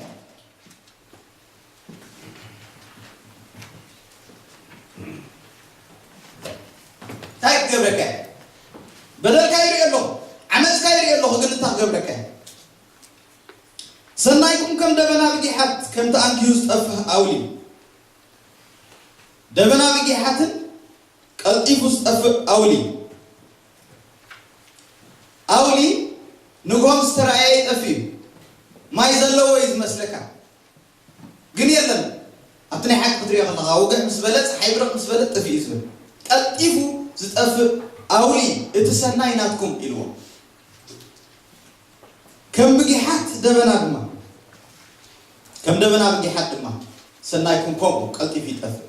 እንታይ ክገብረካ እዩ በደልካ ይርኢ ኣለኹ ዓመፅካ ይርኢ ኣለኹ ግን እንታይ ክገብረካ እዩ ሰናይኩም ከም ደበና ብጊሓት ከም ተኣንጊሁ ዝጠፍህ ኣውሊ እዩ። ደበና ብጊሓትን ቀልጢፉ ዝጠፍእ ኣውሊ እዩ። ኣውሊ ንግሆ ምስ ተራእየ ይጠፍእ እዩ። ማይ ዘለዎ እዩ ዝመስለካ ግን የለን ኣብቲ ናይ ሓቂ ክትሪኦ ከለኻ ውግሕ ምስ በለ ፀሓይ ብርቕ ምስ በለት ጠፊኡ እዩ ዝብል። ቀልጢፉ ዝጠፍእ ኣውሊ እዩ እቲ ሰናይ ናትኩም ኢልዎም። ከም ብጊሓት ደበና ድማ ከም ደበና ብጊሓት ድማ ሰናይኩም ከምኡ ቀልጢፉ ይጠፍእ።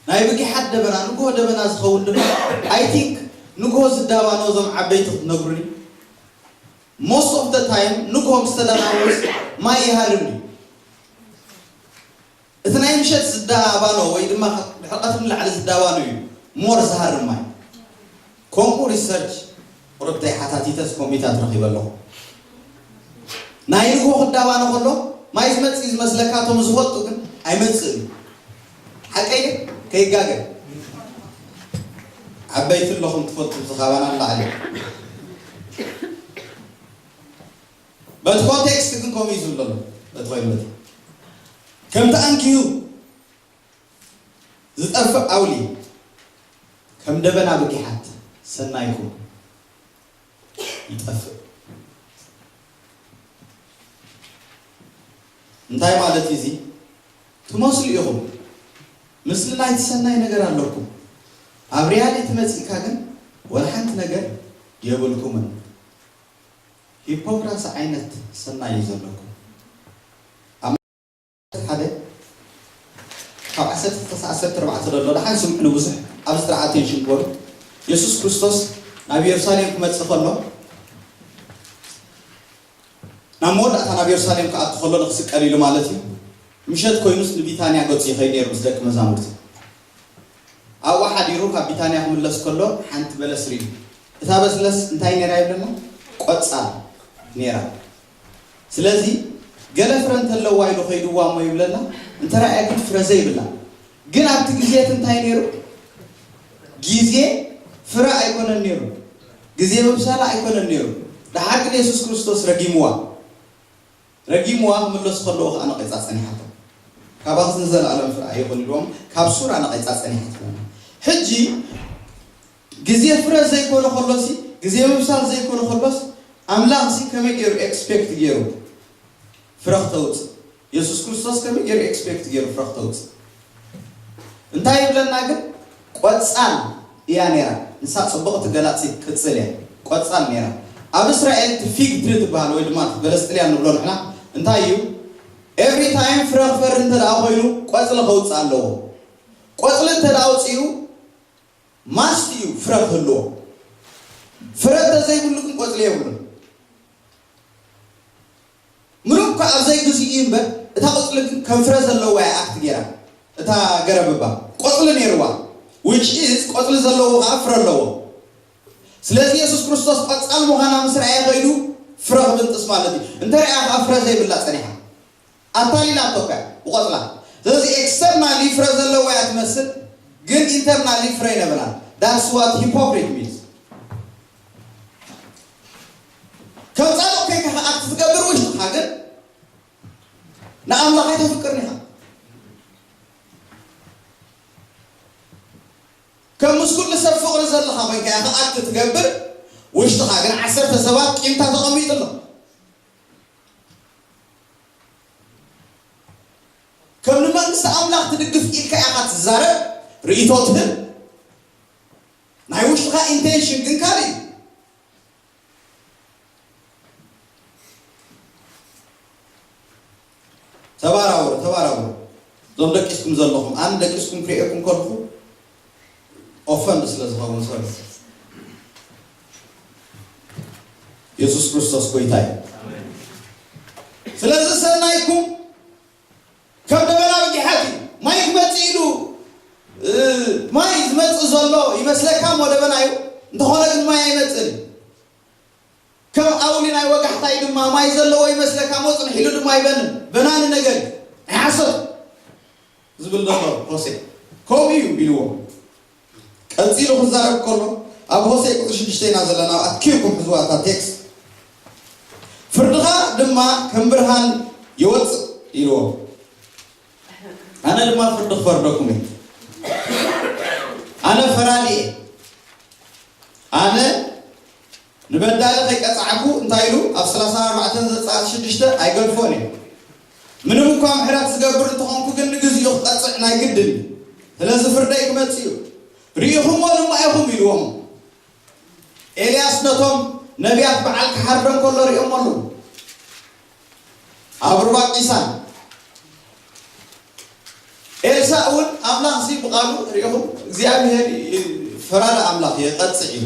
ናይ ብጊሓት ደበና ንግሆ ደበና ዝኸውን ድማ I think ንግሆ ዝዳባኖ እዞም ዓበይቲ ክትነግሩኒ Most of the time ንግሆ ምስ ተዳናወስ ማይ ይሃርም እዩ። እቲ ናይ ምሸት ዝዳባኖ ወይ ድማ ድሕሪ ቀትሪ ንላዕሊ ዝዳባኖ እዩ more ዝሃርም ማይ። ከምኡ ሪሰርች ቁርብተይ ሓታቲተስ ከምኡ ኢታት ረኺበ ኣለኹ። ናይ ንግሆ ክዳባኖ ከሎ ማይ ዝመጽእ እዩ ዝመስለካ እቶም ዝፈልጡ ግን ኣይመጽእን እዩ። ሓቀይ ድየ? ከይጋገ። ዓበይቲ ኣለኹም ትፈልጡ እዚ ካባና ንላዕሊ። በቲ ኮንቴክስት ግን ከምኡ እዩ ዝብል ዘሎ በቲ ኮይኑ በቲ ከምቲ ኣንኪሁ ዝጠፍእ ዓውሊ ከም ደበና ብጊሓት ሰናይኩም ይጠፍእ እንታይ ማለት እዩ እዚ ትመስሉ ኢኹም ምስሊ ናይቲ ሰናይ ነገር ኣለኩም ኣብ ሪያሊቲ መፂእካ ግን ወላ ሓንቲ ነገር የብልኩምን ሂፖክራሲ ዓይነት ሰናይ እዩ ዘለኩም ኣብ ዓሰርተ ሓደ ካብ ዓሰርተ ክሳዕ ዓሰርተ ኣርባዕተ ዘሎ ደሓን ስምዑኒ ብዙሕ ኣብዚ ጥራሕ ኣቴንሽን ግበሩ የሱስ ክርስቶስ ናብ የሩሳሌም ክመጽእ ከሎ ናብ መወዳእታ ናብ የሩሳሌም ክኣቱ ከሎ ንክስቀል ኢሉ ማለት እዩ ምሸት ኮይኑስ ንቢታንያ ገጹ ይኸይድ ነይሩ ምስ ደቂ መዛሙርቲ ኣብኡ ሓዲሩ ካብ ቢታንያ ክምለስ ከሎ ሓንቲ በለስ ርእዩ። እታ በስለስ እንታይ ነይራ ይብለና? ቆጻል ነይራ። ስለዚ ገለ ፍረ እንተለዋ ኢሉ ከይድዋ እሞ ይብለና፣ እንተ ረኣየክን ፍረ ዘይብላ። ግን ኣብቲ ግዜ እቲ እንታይ ነይሩ? ግዜ ፍረ ኣይኮነን ነይሩ። ግዜ ምብሳላ ኣይኮነን ነይሩ። ደሓር ግን የሱስ ክርስቶስ ረጊምዋ። ረጊምዋ ክምለሱ ከለዉ ከኣ ነቒጻ ጸኒሓቶም። ካባኽስ ንዘለኣለም ፍረ ኣይኹን ኢልዎም ካብ ሱራ ነቒጻ ጸኒሓትዎም። ሕጂ ግዜ ፍረ ዘይኮነ ከሎሲ ግዜ ምብሳል ዘይኮነ ከሎስ ኣምላኽሲ ከመይ ገይሩ ኤክስፔክት ገይሩ ፍረ ክተውጽእ የሱስ ክርስቶስ ከመይ ገይሩ ኤክስፔክት ገይሩ ፍረ ክተውጽእ እንታይ ይብለና ግን ቆጻል እያ ነይራ ንሳ ጽብቕቲ ገላጺት ቅጽል እያ ቆጻል ነይራ ኣብ እስራኤል እቲ ፊግ ትሪ ትብሃል ወይ ድማ እቲ በለስ ጥልያን ንብሎ ንሕና እንታይ እዩ ኤቭሪ ታይም ፍረ ክፈሪ እንተድኣ ኮይኑ ቆጽሊ ከውጽእ ኣለዎ ቆጽሊ እንተድኣ ኣውጺኡ ማስት እዩ ፍረ ክህልዎ ፍረ እንተዘይብሉ ግን ቆጽሊ የብሉን። ምሉእ እኳ ኣብ ዘይግዚኡ እዩ እምበር እታ ቁጽሊ ግን ከም ፍረ ዘለዋ እያ ኣክት ጌራ እታ ገረብ እባ ቆጽሊ ኔርዋ which is ቆጽሊ ዘለዎ ከኣ ፍረ ኣለዎ ስለዚ የሱስ ክርስቶስ ቆጻል ምዃና ምስ ረኣየ ከይዱ ፍረ ክብንጥስ ማለት እዩ እንተ ረኣያ ከኣ ፍረ ዘይብላ ጸኒሓ ኣታሊላቶካ እያ ብቆጽላ ስለዚ ኤክስተርናሊ ፍረ ዘለዋ እያ ትመስል ግን ኢንተርናሊ ፍረ ኣይነበራን that's what hypocrite means ከም ጻድቕ ኴንካ ክኣቱ ትገብር ወይስ ንስኻ ግን ንኣምላኽ ኣይተፍቅርን ኢኻ? ከም ምስ ኩሉ ሰብ ፍቕሪ ዘለካ ኮይንካ ኢኻ ክኣቱ ትገብር፣ ውሽጥኻ ግን ዓሰርተ ሰባት ቂምታ ተቐሚጡ ኣሎ። ከም ንመንግስቲ ኣምላኽ ትድግፍ ኢልካ ኢኻ ትዛረብ፣ ርእይቶ ትህብ፣ ናይ ውሽጥኻ ኢንቴንሽን ግን ካልእ እዩ። ተባራበሩ ተባራበሩ እዞም ደቂስኩም ዘለኹም ኣነ ደቂስኩም ክርእየኩም ከለኹ ኦፈንድ ስለ ዝኸውን ሰብ የሱስ ክርስቶስ ጎይታ እዩ ስለዚ ሰናይኩም ከም ደበና ብጊሓት እዩ ማይ ክመጽእ ኢሉ ማይ ዝመጽእ ዘሎ ይመስለካ እሞ ደበና እዩ እንተኾነ ግን ማይ ኣይመጽእን እዩ ከም ኣውሊ ናይ ወጋሕታ እዩ ድማ ማይ ዘለዎ ይመስለካ እሞ ጽንሕ ኢሉ ድማ ኣይበንን በናኒ ነገር እዩ ናይ ሓሶት ዝብል ዘሎ ሆሴ ከምኡ እዩ ኢልዎ ቀጺሉ ክዛረብ ከሎ ኣብ ሆሴእ ቁጽሪ ሽዱሽተ ኢና ዘለና ኣብ ኣትኪርኩም ሕዝዋ እታ ቴክስት ፍርድኻ ድማ ከም ብርሃን ይወጽእ ኢልዎም ኣነ ድማ ፍርዲ ክፈርደኩም እየ ኣነ ፈራዲ እየ ኣነ ንበዳሊ ከይቀጻዕኩ እንታይ ኢሉ ኣብ ሰላሳን ኣርባዕተን ዘጸኣት ሽዱሽተ ኣይገድፎን እየ። ምንም እኳ ምሕረት ዝገብር እንተኾንኩ ግን ንግዚኡ ክቀጽዕ ናይ ግድን እዩ። ስለዚ ፍርደይ ክመጽእ እዩ። ርኢኹምዎ ድማ ኢኹም ኢልዎም። ኤልያስ ነቶም ነብያት በዓል ክሓርዶም ከሎ ርእዮሞ ኣሎ። ኣብ ሩባ ቂሳን ኤልሳእ እውን ኣምላኽ ሲ ብቓሉ ሪኢኹም እግዚኣብሄር ፈራድ ኣምላኽ የቐፅዕ እዩ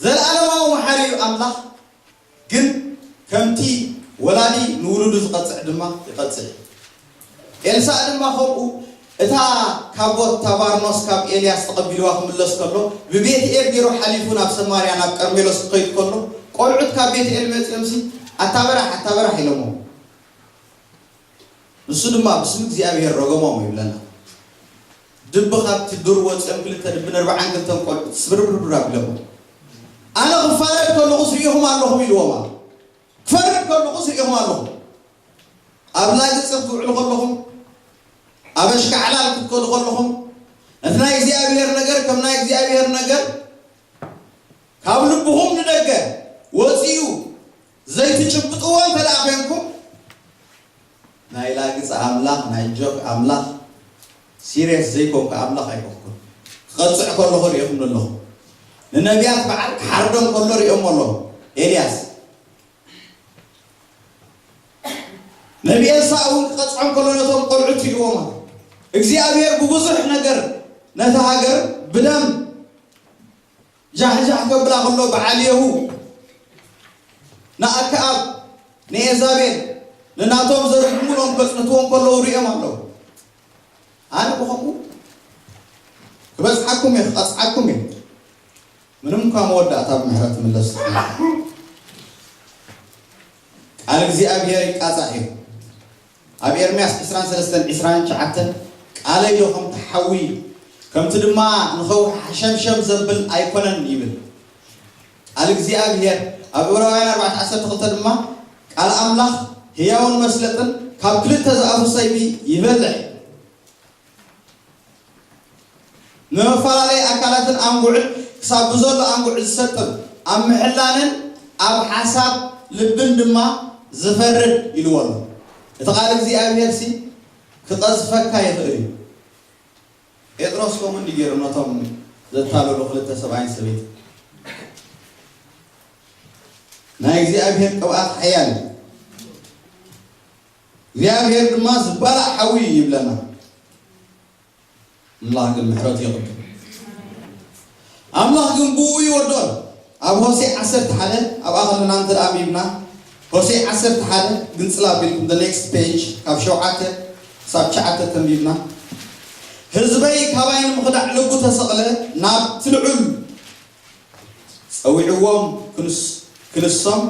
ዘለኣለማዊ መሓሪ እዩ ኣምላኽ ግን ከምቲ ወላዲ ንውሉዱ ዝቐፅዕ ድማ ይቐፅዕ እዩ ኤልሳእ ድማ ከምኡ እታ ካቦት፣ እታ ባርኖስ ካብ ኤልያስ ተቐቢልዋ ክምለስ ከሎ፣ ብቤትኤል ገይሩ ሓሊፉ ናብ ሰማርያ ናብ ቀርሜሎስ ክኸይድ ከሎ፣ ቆልዑት ካብ ቤትኤል መጺኦምሲ ኣታ በራሕ ኣታ በራሕ ኢሎምዎ። ንሱ ድማ ብስም እግዚኣብሄር ረገሞም ይብለና። ድቢ ካብቲ ዱር ወጺኦም ክልተ ድብን ኣርብዓን ክልተን ቆልዑት ስብርብርብር ኣቢሎምዎም። ኣነ ክፋረድ ከለኹስ ርኢኹም ኣለኹም ኢልዎም ኣሎ። ክፈርድ ከለኹ ዝርኤኹም ኣለኹ። ኣብ ላግጺ ክትውዕሉ ከለኹም፣ ኣብ ኣሽካዕላል ክትከዱ ከለኹም፣ ነቲ ናይ እግዚኣብሄር ነገር ከም ናይ እግዚኣብሄር ነገር ካብ ልብኹም ንደገ ወጺኡ ዘይትጭብጥዎ እንተደኣ ዄንኩም፣ ናይ ላግጺ ኣምላኽ ናይ ጆክ ኣምላኽ ሲርየስ ዘይኮንኩ ኣምላኽ ኣይኮንኩን ክቀጽዕ ከለኹ ሪኤኹም ኣለኹ ንነብያት በዓል ክሓርዶም ከሎ ሪኦሞ ኣለኹ ኤልያስ ነቢ ኤልሳእ እውን ክቀጽዖም ከሎ ነቶም ቆልዑት ሪእዎም ኣሎ እግዚኣብሔር ብብዙሕ ነገር ነታ ሃገር ብደም ዣሕዣሕ ከብላ ኸሎ በዓል የሁ ንኣከኣብ ንኤዛቤል ንናቶም ዘርግምሎም ከጽንትዎም ከለዉ ርእዮም ኣለዉ ኣነ ብኸምኡ ክበጽሓኩም እየ ክቐጽዓኩም እየ ምንም እኳ መወዳእታ ብምሕረት ምለስ ቃል እግዚኣብሔር ይቃጻዕ እዩ ኣብ ኤርምያስ ዕስራን ሰለስተን ዕስራን ትሽዓተን ቃለይ ዶ ከምቲ ሓዊ፣ ከምቲ ድማ ንኸውሒ ሓሸምሸም ዘብል ኣይኰነን ይብል ቃል እግዚኣብሄር። ኣብ ዕብራውያን ኣርባዕተ ዓሰርተ ክልተ ድማ ቃል ኣምላኽ ህያውን መስለጥን ካብ ክልተ ዝኣፉ ሰይፊ ይበልሕ እዩ። ንመፈላለዪ ኣካላትን ኣንጉዕን ክሳብ ብዘሎ ኣንጉዕ ዝሰጥም ኣብ ምሕላንን ኣብ ሓሳብ ልብን ድማ ዝፈርድ ኢልዎ ኣሎ። እቲ ቃል እግዚኣብሄርሲ ክቐዝፈካ ይኽእል እዩ። ጴጥሮስ ከምኡ እንድዩ ገይሩ ነቶም ዘታለሉ ክልተ ሰብኣይን ሰበይትን። ናይ እግዚኣብሄር ቅብኣት ሓያል እዩ። እግዚኣብሄር ድማ ዝባላዕ ሓዊ እዩ ይብለና ኣምላኽ ግን ምሕረቱ የቕድም ኣምላኽ ግን ብኡ ይወዶን ኣብ ሆሴዕ ዓሰርተ ሓደ ኣብኣ ከለና እንተ ኣንቢብና ሆሴዕ ዓሰርተ ሓደ ግንጽል ኣቢልኩም the next page ካብ ሸውዓተ ክሳብ ትሽዓተ ተንቢብና ህዝበይ ካባይ ንምኽዳዕ ልቡ ተሰቕለ ናብቲ ልዑል ጸዊዕዎም ክንሶም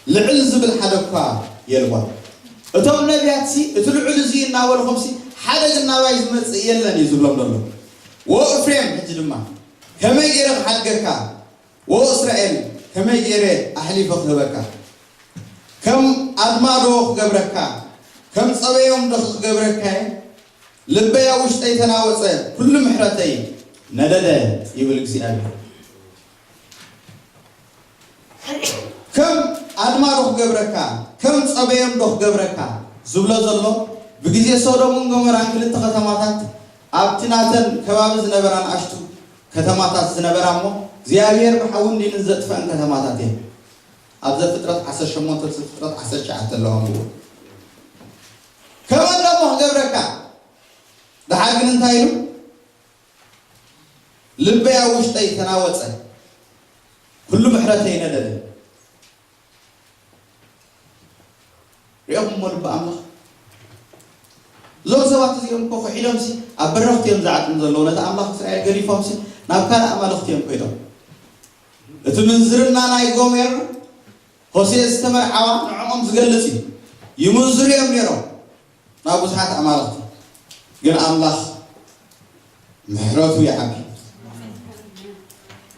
ልዕል ዝብል ሓደ እኳ የልቦን። እቶም ነብያትሲ እቲ ልዑል እዚ እናበልኹምሲ ሓደ ግን ናባይ ዝመጽእ የለን እዩ ዝብሎም ዘሎ። ዎ እፍሬም ሕጂ ድማ ከመይ ገይረ ክሓድገካ ዎ እስራኤል ከመይ ገይረ ኣሕሊፈ ክህበካ ከም ኣድማዶ ክገብረካ ከም ጸበዮምዶ ክገብረካየ? ልበይ ኣብ ውሽጠይ ተናወጸ፣ ኵሉ ምሕረተይ ነደደ ይብል እግዚኣብሄር። ከም ኣድማዶ ክገብረካ፣ ከም ጸበዮምዶ ክገብረካ ዝብሎ ዘሎ፣ ብግዜ ሶዶምን ጎመራን ክልተ ከተማታት ኣብቲ ናተን ከባቢ ዝነበራ ንኣሽቱ ከተማታት ዝነበራ እሞ እግዚኣብሄር ብሓውን ዲንን ዘጥፈኣን ከተማታት እየን። ኣብ ዘፍጥረት ዓሰርተ ሸሞንተ ዘፍጥረት ዓሰርተ ትሽዓተ ኣሎ ኣንብቡ። ከምኡ ኣሎ እሞ ክገብረካ ደሓር ግን እንታይ ኢሉ ልበይ ኣብ ውሽጠይ ተናወጸ ኩሉ ምሕረተይ ነደደ ሪኦኹምዎ ልቢ ኣምላኽ እዞም ሰባት እዚኦም እኮ ክሒዶምሲ ኣብ በረኽቲ እዮም ዝዓጥኑ ዘለዉ ነቲ ኣምላኽ እስራኤል ገዲፎምሲ ናብ ካልእ ኣማልኽቲ እዮም ኮይዶም እቲ ምንዝርና ናይ ጎሜር ሆሴእ ዝተመርዓዋ ንዕኦም ዝገልጽ እዩ። ይምንዝሩ እዮም ነይሮም ናብ ብዙሓት ኣማልኽቲ ግን ኣምላኽ ምሕረቱ ይዓቢ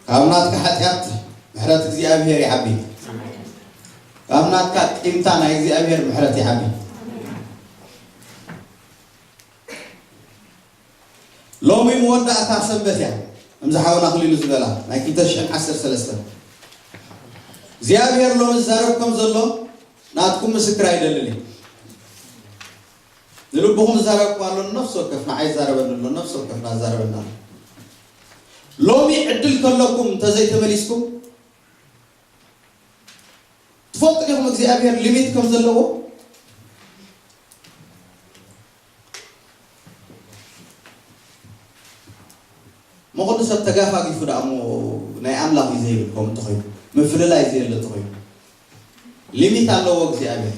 ካብ ናትካ ሓጢኣት ምሕረት እግዚኣብሔር ይዓቢ ካብ ናትካ ቂምታ ናይ እግዚኣብሔር ምሕረት ይዓቢ። ሎሚ መወዳእታ ሰንበት እያ ከምዚ ሓውና ኣኽሊሉ ዝበላ ናይ ክልተ ሽሕን ዓሰርተ ሰለስተን እግዚኣብሔር ሎሚ ዝዛረብ ከም ዘሎ ናትኩም ምስክር ኣይደልን እዩ ንልብኹም ዝዛረብኩም ኣሎ ነፍሲ ወከፍ ንዓይ ዝዛረበኒ ኣሎ ነፍሲ ወከፍ ናዛረበና ኣሎ ሎሚ ዕድል ከለኩም እንተዘይተመሊስኩም ትፈልጡ ዲኹም እግዚኣብሄር ሊሚት ከም ዘለዎ? መቕዱ ሰብ ተጋፋጊፉ ደኣ እሞ ናይ ኣምላኽ እዩ ዘይብል ከምኡ እንተኾይኑ ምፍልላይ ዘየለ እንተኾይኑ ሊሚት ኣለዎ እግዚኣብሄር።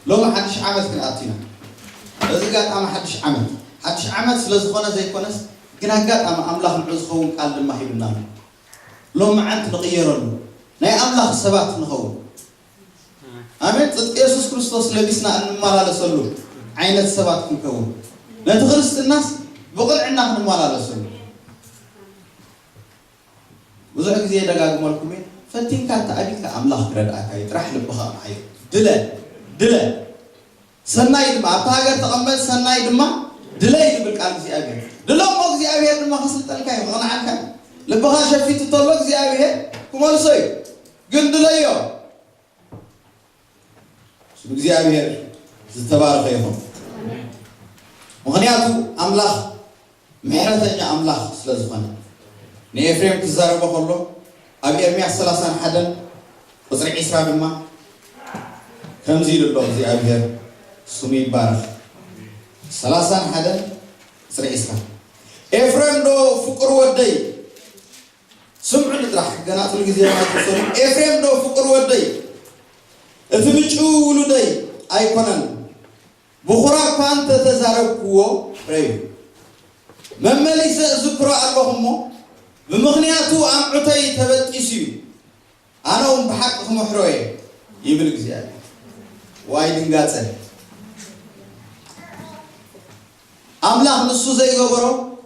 ሎሚ ሓድሽ ዓመት ክንኣቱ ኢና። በዚ ኣጋጣሚ ሓድሽ ዓመት ሓድሽ ዓመት ስለ ዝኾነ ዘይኮነስ ግን ኣጋጣሚ ኣምላኽ ንዑ ዝኸውን ቃል ድማ ሂቡና ኣሎ። ሎም መዓልቲ ንቕየረሉ ናይ ኣምላኽ ሰባት ንኸውን ኣሜን ጽድቂ የሱስ ክርስቶስ ለቢስና እንመላለሰሉ ዓይነት ሰባት ክንከውን ነቲ ክርስትናስ ብቕንዕና ክንመላለሰሉ ብዙሕ ግዜ ደጋግመልኩም እየ ፈቲንካ ተኣቢካ ኣምላኽ ክረድኣካ እዩ ጥራሕ ልብኻ ምሓዮ ድለ ድለ ሰናይ ድማ ኣብታ ሃገር ተቐመጥ፣ ሰናይ ድማ ድለይ ዝብል ቃል እግዚኣብሄር ድሎ እሞ እግዚኣብሄር ድማ ክስልጠልካ እዩ፣ ክቕንዓልካ እዩ። ልብኻ ሸፊቱ ተሎ እግዚኣብሄር ክመልሶ እዩ፣ ግን ድለዮ። ስም እግዚኣብሄር ዝተባረኸ ይኹን። ምኽንያቱ ኣምላኽ ምሕረተኛ ኣምላኽ ስለ ዝዀነ። ንኤፍሬም ክዛረቦ ኸሎ ኣብ ኤርምያስ ሰላሳን ሓደን ቍጽሪ ዕስራ ድማ ከምዚ ኢሉ ኣሎ፣ እግዚኣብሄር ስሙ ይባረኽ። ሰላሳን ሓደን ቍጽሪ ዕስራ። ኤፍሬምዶ ፍቑር ወደይ፣ ስምዑኒ ጥራሕ፣ ገና ጽሉ ግዜ እውን ኣይተወሰዱን፣ ኤፍሬምዶ ፍቑር ወደይ፣ እቲ ምጭው ውሉደይ ኣይኰነን? ብኹራ እኳ እንተ ተዛረብኩዎ ረዩ መመሊሰ እዝክሮ ኣሎኹ እሞ፣ ብምኽንያቱ ኣምዑተይ ተበጢሱ እዩ፣ ኣነውን ብሓቂ ክምሕሮ እየ ይብል እግዚኣብሄር። ዋይ ድንጋጸ! ኣምላኽ ንሱ ዘይገበሮ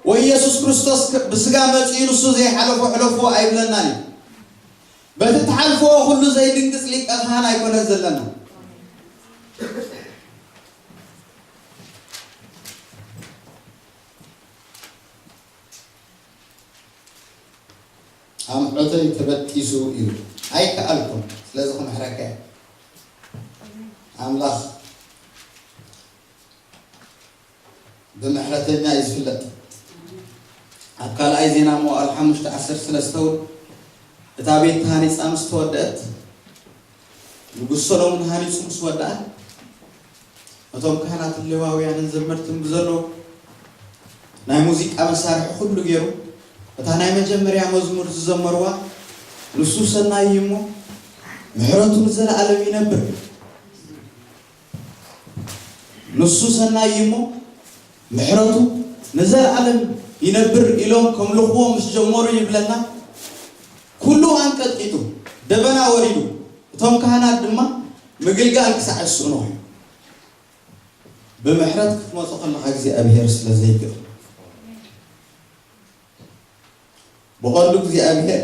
ወይ የሱስ ክርስቶስ ብስጋ መጺኡ ንሱ ዘይሓለፎ ሕለፉዎ ኣይብለናን እዩ። በቲ እትሓልፍዎ ኩሉ ዘይድንግጽ ሊቀ ካህን ኣይኮነን ዘለና። ኣምዑተይ ተበጢሱ እዩ ኣይከኣልኩን ስለዚ ክምሕረካ እየ ኣምላኽ ብምሕረተኛ እዩ ዝፍለጥ። ኣብ ካልኣይ ዜና መዋእል ሓሙሽተ ዓሰርተ ሰለስተ እውን እታ ቤት ተሃኒፃ ምስ ተወደእት ንጉስ ሰሎሙን ሃኒፁ ምስ ወደኣ እቶም ካህናትን ሌዋውያንን ዘመርትን ብዘለዉ ናይ ሙዚቃ መሳርሒ ኩሉ ገይሩ እታ ናይ መጀመርያ መዝሙር ዝዘመርዋ ንሱ ሰናይ እዩ እሞ ምሕረቱ ንዘለኣለም ይነብር ንሱ ሰናይ እዩ እሞ ምሕረቱ ንዘለኣለም ይነብር ኢሎም ከምልኽዎ ምስ ጀመሩ ይብለና ኩሉ ኣንቀጥቂጡ ደበና ወሪዱ እቶም ካህናት ድማ ምግልጋል ክሳዕ ዝስእኑ ኮይኑ ብምሕረት ክትመጾ ከለኻ እግዚኣብሄር ስለ ዘይግእ ብቐንዱ እግዚኣብሄር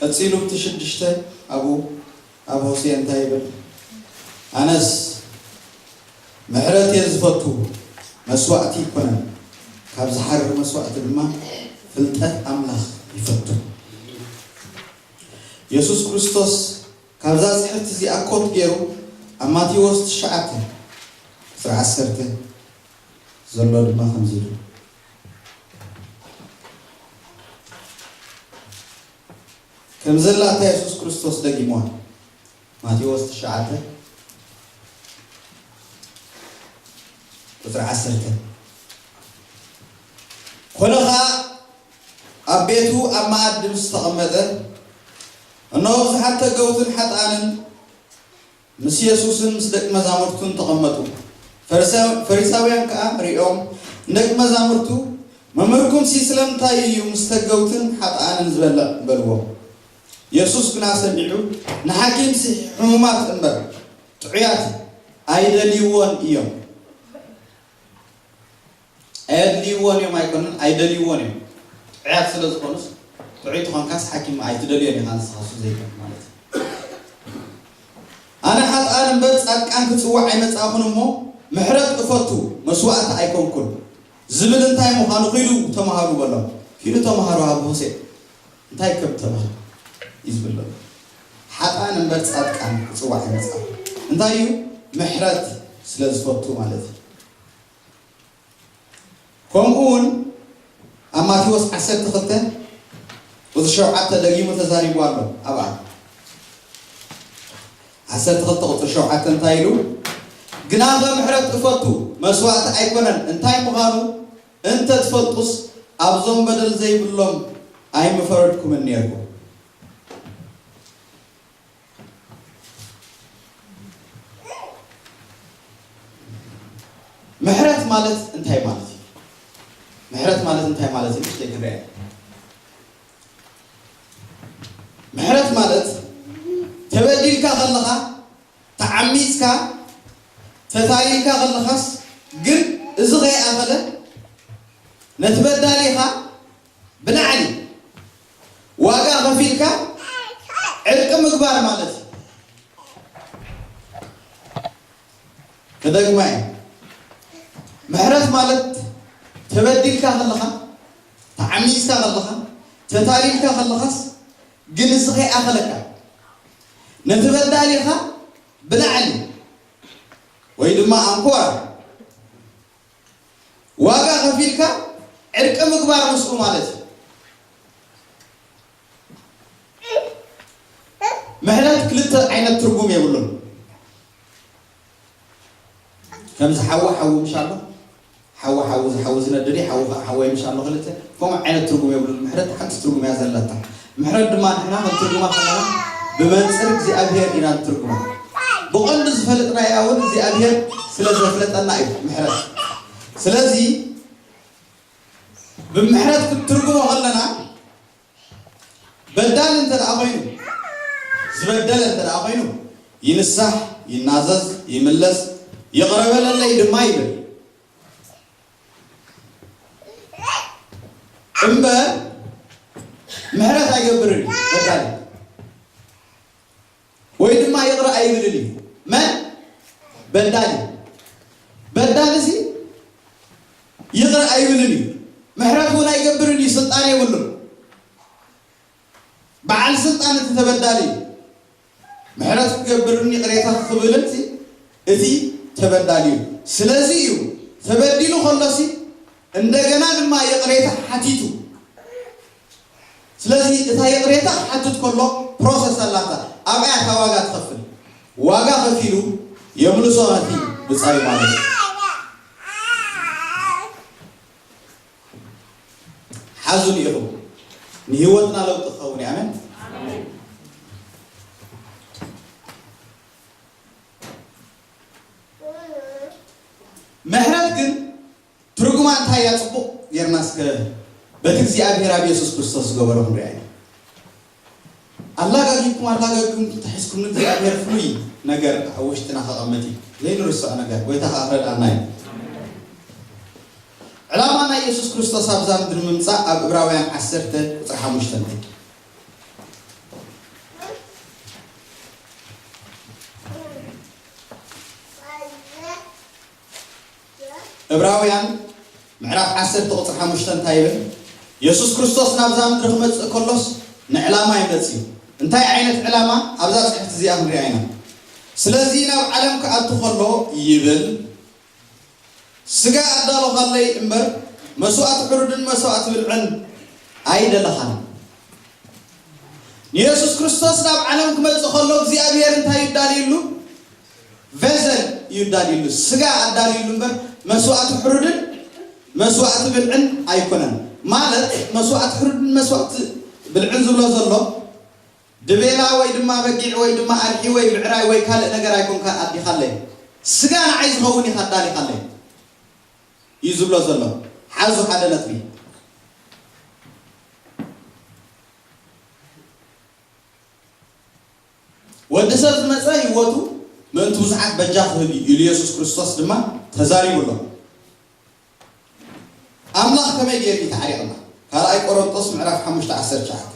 ቀጺሉ እቲ ሽዱሽተ ኣብኡ ኣብ ሆሴዕ እንታይ ይብል፣ ኣነስ ምሕረት እየ ዝፈቱ፣ መስዋእቲ ኣይኰነን፣ ካብ ዝሓርር መስዋእቲ ድማ ፍልጠት ኣምላኽ ይፈቱ። የሱስ ክርስቶስ ካብዛ ጽሕፍቲ እዚኣ ኮት ገይሩ ኣብ ማቴዎስ ትሽዓተ፣ ዕስራ ዓሰርተ ዘሎ ድማ ከምዚ ኢሉ፣ ከም ዘላ እታ የሱስ ክርስቶስ ደጊምዋ ማቴዎስ ትሽዓተ ቁጽሪ ዓሰርተ ኮነ ኸኣ ኣብ ቤቱ ኣብ መኣዲ ምስ ተቐመጠ እነሆ ብዙሓት ተገውትን ሓጥኣንን ምስ የሱስን ምስ ደቂ መዛሙርቱን ተቐመጡ። ፈሪሳውያን ከኣ ርእዮም ንደቂ መዛሙርቱ፣ መምህርኩምሲ ስለምንታይ እዩ ምስ ተገውትን ሓጥኣንን ዝበልዕ? በልዎም። የሱስ ግና ሰሚዑ፣ ንሓኪምሲ ሕሙማት እምበር፣ ጥዑያት ኣይደልይዎን እዮም። ኣየድልይዎን እዮም ኣይኮነን ኣይደልይዎን እዮም ጥዑያት ስለ ዝኾኑስ ጥዑይ ተኾንካስ ሓኪም ኣይትደልዮን ኢኻ ንስኻ እሱ ዘይኮነ ማለት እዩ ኣነ ሓጥኣን እምበር ጻድቃን ክጽዋዕ ኣይመጻእኹን እሞ ምሕረት እፈቱ መስዋእቲ ኣይኮንኩን ዝብል እንታይ ምዃኑ ኪዱ ተማሃሩ በሎም ኪዱ ተማሃሩ ኣብ ሆሴእ እንታይ ከም ተባህለ እዩ ዝብል ዘሎ ሓጥኣን እምበር ጻድቃን ክጽዋዕ ኣይመጻእኹን እንታይ እዩ ምሕረት ስለ ዝፈቱ ማለት እዩ ከምኡውን ኣብ ማቴዎስ ዓሰርተ ክልተ ቁጽሪ ሸውዓተ ደጊሙ ተዛሪቡ ኣሎ ኣብኣ ዓሰርተ ክልተ ቁጽሪ ሸውዓተ እንታይ ኢሉ ግናኸ ምሕረት እፈቱ መስዋእቲ ኣይኮነን እንታይ ምዃኑ እንተ ትፈልጡስ ኣብዞም በደል ዘይብሎም ኣይምፈረድኩምን ነርኩም ምሕረት ማለት እንታይ ማለት እዩ? ምሕረት ማለት እንታይ ማለት እዩ? ንእሽተይ ክንሪኣ ምሕረት ማለት ተበዲልካ ከለኻ ተዓሚፅካ ተታሊልካ ከለኻስ ግን እዚ ከይኣኸለ ነቲ በዳሊኻ ብላዕሊ ዋጋ ከፊልካ ዕርቂ ምግባር ማለት እዩ። ክደግማ እየ ምሕረት ማለት ተበዲልካ ከለኻ ተዓሚፅካ ከለኻ ተታሊልካ ከለኻስ ግን እዚ ከይኣኸለካ ነቲ በዳሊኻ ብላዕሊ ወይ ድማ ኣንኮራ ዋጋ ከፊልካ ዕርቂ ምግባር ምስኡ ማለት እዩ። ምሕረት ክልተ ዓይነት ትርጉም የብሉን። ከምዚ ሓዊ ሓዊ ምሽ ኣሎ ሓዊ ሓዊ ዝሓዊ ዝነድድ ሓዊ ከዓ ሓወይ ምሽ ኣሎ ክልተ ከምኡ ዓይነት ትርጉም የብሉን። ምሕረት ሓንቲ ትርጉም እያ ዘለታ። ምሕረት ድማ ንሕና ክንትርጉማ ከለና ብመንጽር እግዚኣብሄር ኢና ንትርጉማ። ብቐንዱ ዝፈልጥናያ ውን እግዚኣብሄር ስለ ዘፍለጠና እዩ ምሕረት። ስለዚ ብምሕረት ክንትርጉሞ ከለና በዳሊ እንተ ደኣ ኮይኑ ዝበደለ እንተ ደኣ ኮይኑ ይንሳሕ፣ ይናዘዝ፣ ይምለስ፣ ይቕረ በለለይ ድማ ይብል። እምበር ምሕረት ኣይገብርን እዩ ፈጣሪ ወይ ድማ ይቕረ ኣይብልን እዩ መን በዳሊ በዳሊ እዚ ይቕረ ኣይብልን እዩ ምሕረት እውን ኣይገብርን እዩ ስልጣን የብሉን በዓል ስልጣን እቲ ተበዳሊ ምሕረት ክገብርን ይቕሬታ ክክብልን ሲ እቲ ተበዳሊ እዩ። ስለዚ እዩ ተበዲሉ ከሎ ሲ እንደገና ድማ ይቕሬታ ሓቲቱ። ስለዚ እታ ይቕሬታ ክሓትት ከሎ ፕሮሰስ ኣላታ ኣብኣያ እታ ዋጋ ትኸፍል። ዋጋ ከፊሉ የምልሶ ነቲ ብጻዩ ማለት እዩ። ሓዙኒ ኢኹም ንሂወትና ለውጢ ክኸውን እዩ ኣሜን። ምሕረት ግን ትርጉማ እንታይ እያ ጽቡቅ ጌርና እስከ በቲ እግዚኣብሄር ኣብ የሱስ ክርስቶስ ዝገበሮ ክንሪኣ ኢና። ኣላጋጊብኩም ኣላጋጊብኩም ክልተ ሒዝኩም ንእግዚኣብሄር ፍሉይ ነገር ኣብ ውሽጥና ከቐምጥ እዩ ዘይንርስዖ ነገር ጎይታ ከኣ ክረድኣና እዩ። ዕላማ ናይ የሱስ ክርስቶስ ኣብዛ ምድሪ ምምጻእ ኣብ እብራውያን ዓሰርተ ቁጽሪ ሓሙሽተ ንርኢ። እብራውያን ምዕራፍ ዓሰርተ ቁጽሪ ሓሙሽተ እንታይ ይብል? የሱስ ክርስቶስ ናብዛ ምድሪ ክመጽእ ከሎስ ንዕላማ እዩ መጺኡ። እንታይ ዓይነት ዕላማ? ኣብዛ ጽሕፍቲ እዚኣ ክንሪኣ ኢና። ስለዚ ናብ ዓለም ክኣቱ ከሎ ይብል፣ ስጋ ኣዳሎኻለይ እምበር መስዋእቲ ሕሩድን መስዋእቲ ብልዕን ኣይደለኻን። ንየሱስ ክርስቶስ ናብ ዓለም ክመጽእ ከሎ እግዚኣብሄር እንታይ እዩ ኣዳልዩሉ? ቨሰል እዩ ኣዳልዩሉ፣ ስጋ ኣዳልዩሉ እምበር መስዋእቲ ሕሩድን መስዋእቲ ብልዕን ኣይኮነን። ማለት መስዋእቲ ሕሩድን መስዋእቲ ብልዕን ዝብሎ ዘሎ ድቤላ ወይ ድማ በጊዕ ወይ ድማ ኣድሒ ወይ ብዕራይ ወይ ካልእ ነገር ኣይኮንካን ኣዲኻለይ፣ ስጋ ንዓይ ዝኸውን ኢኻ ኣዳሊኻለይ እዩ ዝብሎ ዘሎ። ሓዙ ሓደ ነጥቢ። ወዲ ሰብ ዝመጸ ህይወቱ ምእንቲ ብዙሓት በጃ ክህብ እዩ ኢሉ የሱስ ክርስቶስ ድማ ተዛሪቡ ኣሎ። ኣምላኽ ከመይ ገይሩ እዩ ተዓሪቕና? ካልኣይ ቆሮንጦስ ምዕራፍ ሓሙሽተ ዓሰርተ ትሽዓተ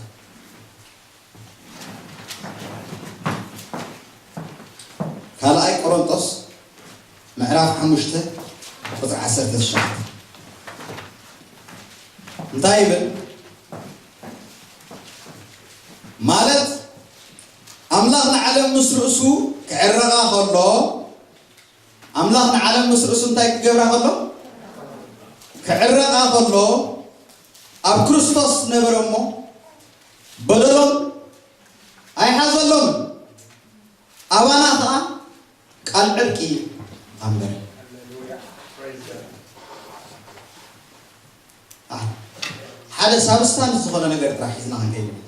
ካልኣይ ቆሮንጦስ ምዕራፍ ሓሙሽተ ቁፅሪ ዓሰርተ ትሽዓተ እንታይ ይብል? ማለት ኣምላኽ ንዓለም ምስ ርእሱ ክዕረቓ ከሎ ኣምላኽ ንዓለም ምስ ርእሱ እንታይ ክገብራ ከሎ ክዕረቓ ከሎ ኣብ ክርስቶስ ነበረ እሞ በደሎም ኣይሓዘሎም ኣባና ከዓ ቃል ዕርቂ ኣንበረ ሓደ ሳብስታንስ ዝኾነ ነገር ጥራሕ ሒዝና ክንከይድ ኢና።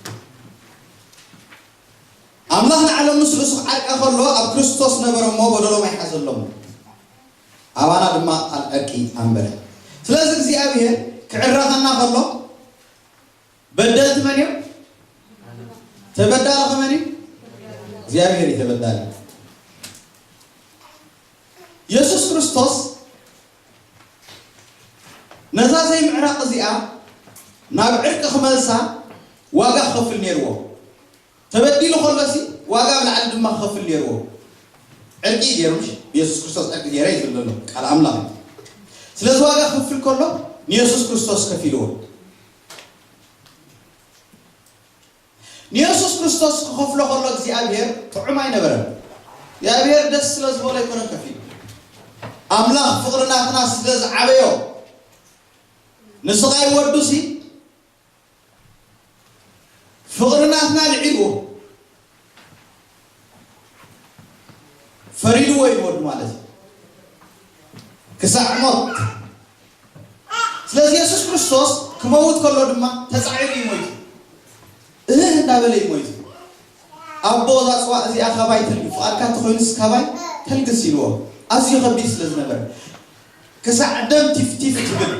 ኣምላኽ ንዓለም ምስ ርእሱ ክዓርቃ ከሎ ኣብ ክርስቶስ ነበረ እሞ በደሎም ኣይሓዘሎምን፣ ኣባና ድማ ቃል ዕርቂ ኣንበረ። ስለዚ እግዚኣብሔር ክዕረኸና ከሎ በደልቲ መን እዮም? ተበዳሊ ከመን እዩ? እግዚኣብሔር እዩ ተበዳሊ። የሱስ ክርስቶስ ነዛ ዘይምዕራቕ እዚኣ ናብ ዕርቂ ክመልሳ ዋጋ ክኸፍል ኔርዎ። ተበዲሉ ከሎሲ ዋጋ ኣብ ላዕሊ ድማ ክኸፍል ኔርዎ። ዕርቂ እዩ ጌሩ ምሽ የሱስ ክርስቶስ ዕርቂ ጌረ እዩ ዝብል ዘሎ ቃል ኣምላኽ እዩ። ስለዚ ዋጋ ክፍል ከሎ ንየሱስ ክርስቶስ ከፊልዎ። ንየሱስ ክርስቶስ ክኸፍሎ ከሎ እግዚኣብሄር ጥዑም ኣይነበረን። እግዚኣብሄር ደስ ስለ ዝበሎ ኣይኮነን ከፊሉ። ኣምላኽ ፍቕሪ ናትና ስለ ዝዓበዮ ንስቓይ ወዱሲ ፍቕሪ ናትና ልዒልዎ። ፈሪድዎ እዩ ወዱ ማለት እዩ ክሳዕ ሞት ስለዚ የሱስ ክርስቶስ ክመውት ከሎ ድማ ተጻዒሩ እዩ ሞይቱ እህህ እንዳበለ እዩ ሞይቱ ኣቦ እዛ ፅዋእ እዚኣ ካባይ ተልግስ ፍቓድካ እንተኮይኑስ ካባይ ተልግስ ኢልዎ ኣዝዩ ከቢድ ስለ ዝነበረ ክሳዕ ደም ቲፍቲፍ ትብል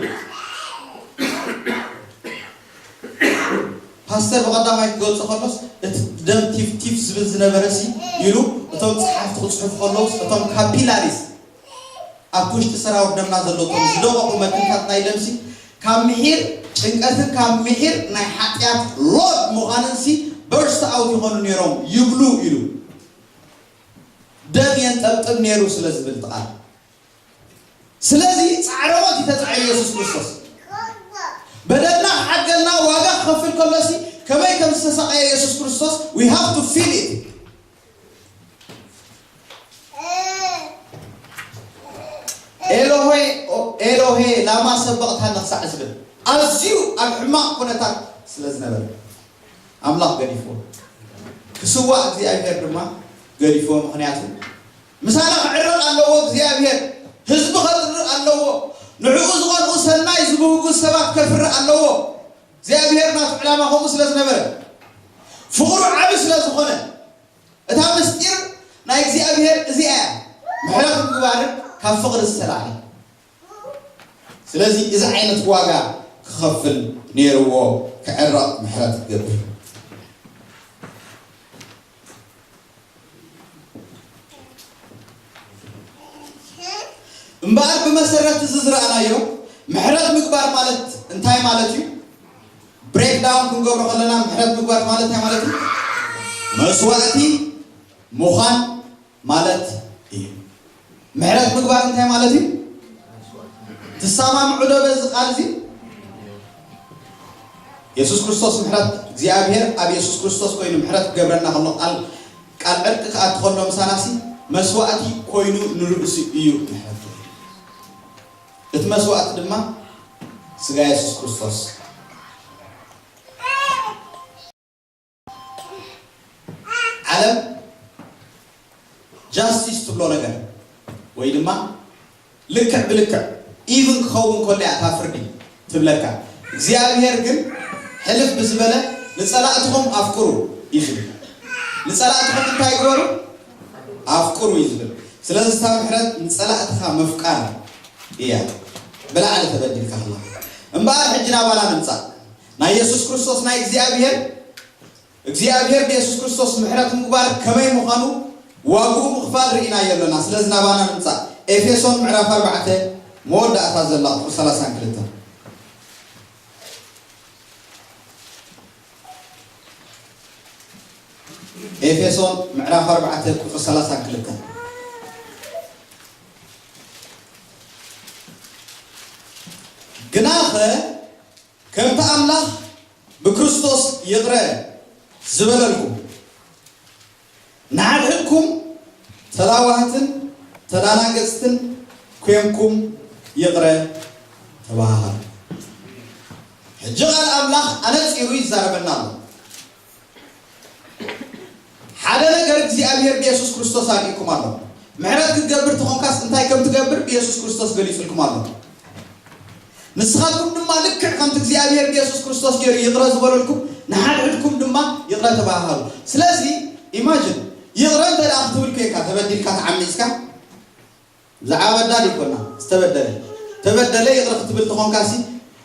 ፓስተር ብቐዳማይ ክገልጾ ከሎስ እቲ ደም ቲፍቲፍ ዝብል ዝነበረሲ ኢሉ እቶም ጸሓፍቲ ክጽሕፉ ከለውስ እቶም ካፒላሪስ ኣብቲ ውሽጢ ሰራውር ደምና ዘለዉ እቶም ዝደቐቑ መትንታት ናይ ደምሲ ካብ ምሒር ጭንቀትን ካብ ምሒር ናይ ሓጢኣት ሎድ ምዃንንሲ በርስት ኣውት ይኾኑ ነይሮም ይብሉ ኢሉ ደም የንጠብጥብ ነይሩ ስለ ዝብል ጥቓል ስለዚ ጻዕረ ሞት እዩ ተጻዒሩ የሱስ ክርስቶስ በደልና ክዓግገልና ዋጋ ክኸፍል ከሎሲ ከመይ ከም ዝተሳቐየ የሱስ ክርስቶስ we have to feel it ኤሎሄ ኤሎሄ ላማ ሰበቕታኒ ክሳዕ ዝብል ኣዝዩ ኣብ ሕማቕ ኩነታት ስለ ዝነበረ ኣምላኽ ገዲፍዎ ክስዋእ እግዚኣብሔር ድማ ገዲፍዎ ምክንያቱ ምሳና ክዕረቕ ኣለዎ እግዚኣብሄር ህዝቡ ከጽርእ ኣለዎ ንዕኡ ዝቐንኡ ሰናይ ዝብህጉ ሰባት ከፍሪ ኣለዎ እግዚኣብሄር ናቱ ዕላማ ከምኡ ስለ ዝነበረ ፍቕሩ ዓቢ ስለ ዝኾነ እታ ምስጢር ናይ እግዚኣብሄር እዚኣ እያ ምሕረት ምግባርን ካብ ፍቕሪ ዝተላዕለ ስለዚ እዚ ዓይነት ዋጋ ክኸፍል ኔርዎ ክዕረቕ ምሕረት ክገብር። እምበኣር ብመሰረት እዚ ዝረኣናዮ ምሕረት ምግባር ማለት እንታይ ማለት እዩ? ብሬክ ዳውን ክንገብሮ ከለና ምሕረት ምግባር ማለት እንታይ ማለት እዩ? መስዋእቲ ምዃን ማለት እዩ። ምሕረት ምግባር እንታይ ማለት እዩ? ትሰማምዑ ዶ በዚ ቃል እዚ? የሱስ ክርስቶስ ምሕረት እግዚኣብሔር ኣብ የሱስ ክርስቶስ ኮይኑ ምሕረት ክገብረና ከሎ ቃል ቃል ዕርቂ ከኣ እትኸሎ ምሳናሲ መስዋእቲ ኮይኑ ንርእሱ እዩ ምሕረት እቲ መስዋእቲ ድማ ስጋ የሱስ ክርስቶስ ዓለም ጃስቲስ ትብሎ ነገር ወይ ድማ ልክዕ ብልክዕ ኢቭን ክኸውን ከሎ እያ እታ ፍርዲ ትብለካ እግዚኣብሄር ግን ሕልፍ ብዝበለ ንጸላእትኹም ኣፍቅሩ እዩ ዝብል ንጸላእትኹም እንታይ ግበሩ ኣፍቅሩ እዩ ዝብል ስለዚ እታ ምሕረት ንጸላእትኻ ምፍቃር እያ ብላዕሊ ተበዲልካ ከለኻ እምበኣር ሕጂ ናባና ንምጻእ ናይ የሱስ ክርስቶስ ናይ እግዚኣብሄር እግዚኣብሄር ብየሱስ ክርስቶስ ምሕረት ምግባር ከመይ ምዃኑ ዋግኡ ምኽፋል ርኢናዮ ኣሎና ስለዚ ናባና ንምጻእ ኤፌሶን ምዕራፍ ኣርባዕተ መወዳእታ ዘላ ቁጽሪ ሰላሳን ክልተን ኤፌሶን ምዕራፍ ኣርባዕተ ቁጽሪ ሰላሳን ክልተን ግናኸ ከምቲ ኣምላኽ ብክርስቶስ ይቕረ ዝበለልኩም፣ ንሓድሕድኩም ተላዋህትን ተዳናገጽትን ኴንኩም ይቕረ ተባሃሃሉ። ሕጂ ቓል ኣምላኽ ኣነጺሩ ይዛረበና ኣሎ። ሓደ ነገር እግዚኣብሔር ብየሱስ ክርስቶስ ኣርኢኩም ኣሎ። ምሕረት ክትገብር ተኾንካስ እንታይ ከም ትገብር ብየሱስ ክርስቶስ ገሊጹልኩም ኣሎ። ንስኻትኩም ድማ ልክዕ ከምቲ እግዚኣብሔር ብየሱስ ክርስቶስ ገይሩ ይቕረ ዝበለልኩም ንሓድሕድኩም ድማ ይቕረ ተባሃሃሉ። ስለዚ ኢማጅን ይቕረ እንተ ክትብል ኮይንካ ተበዲልካ ተዓሚጽካ ብዛዕባ በዳሊ ኮና ዝተበደለ ተበደለ ይቕረ ክትብል ተኾንካሲ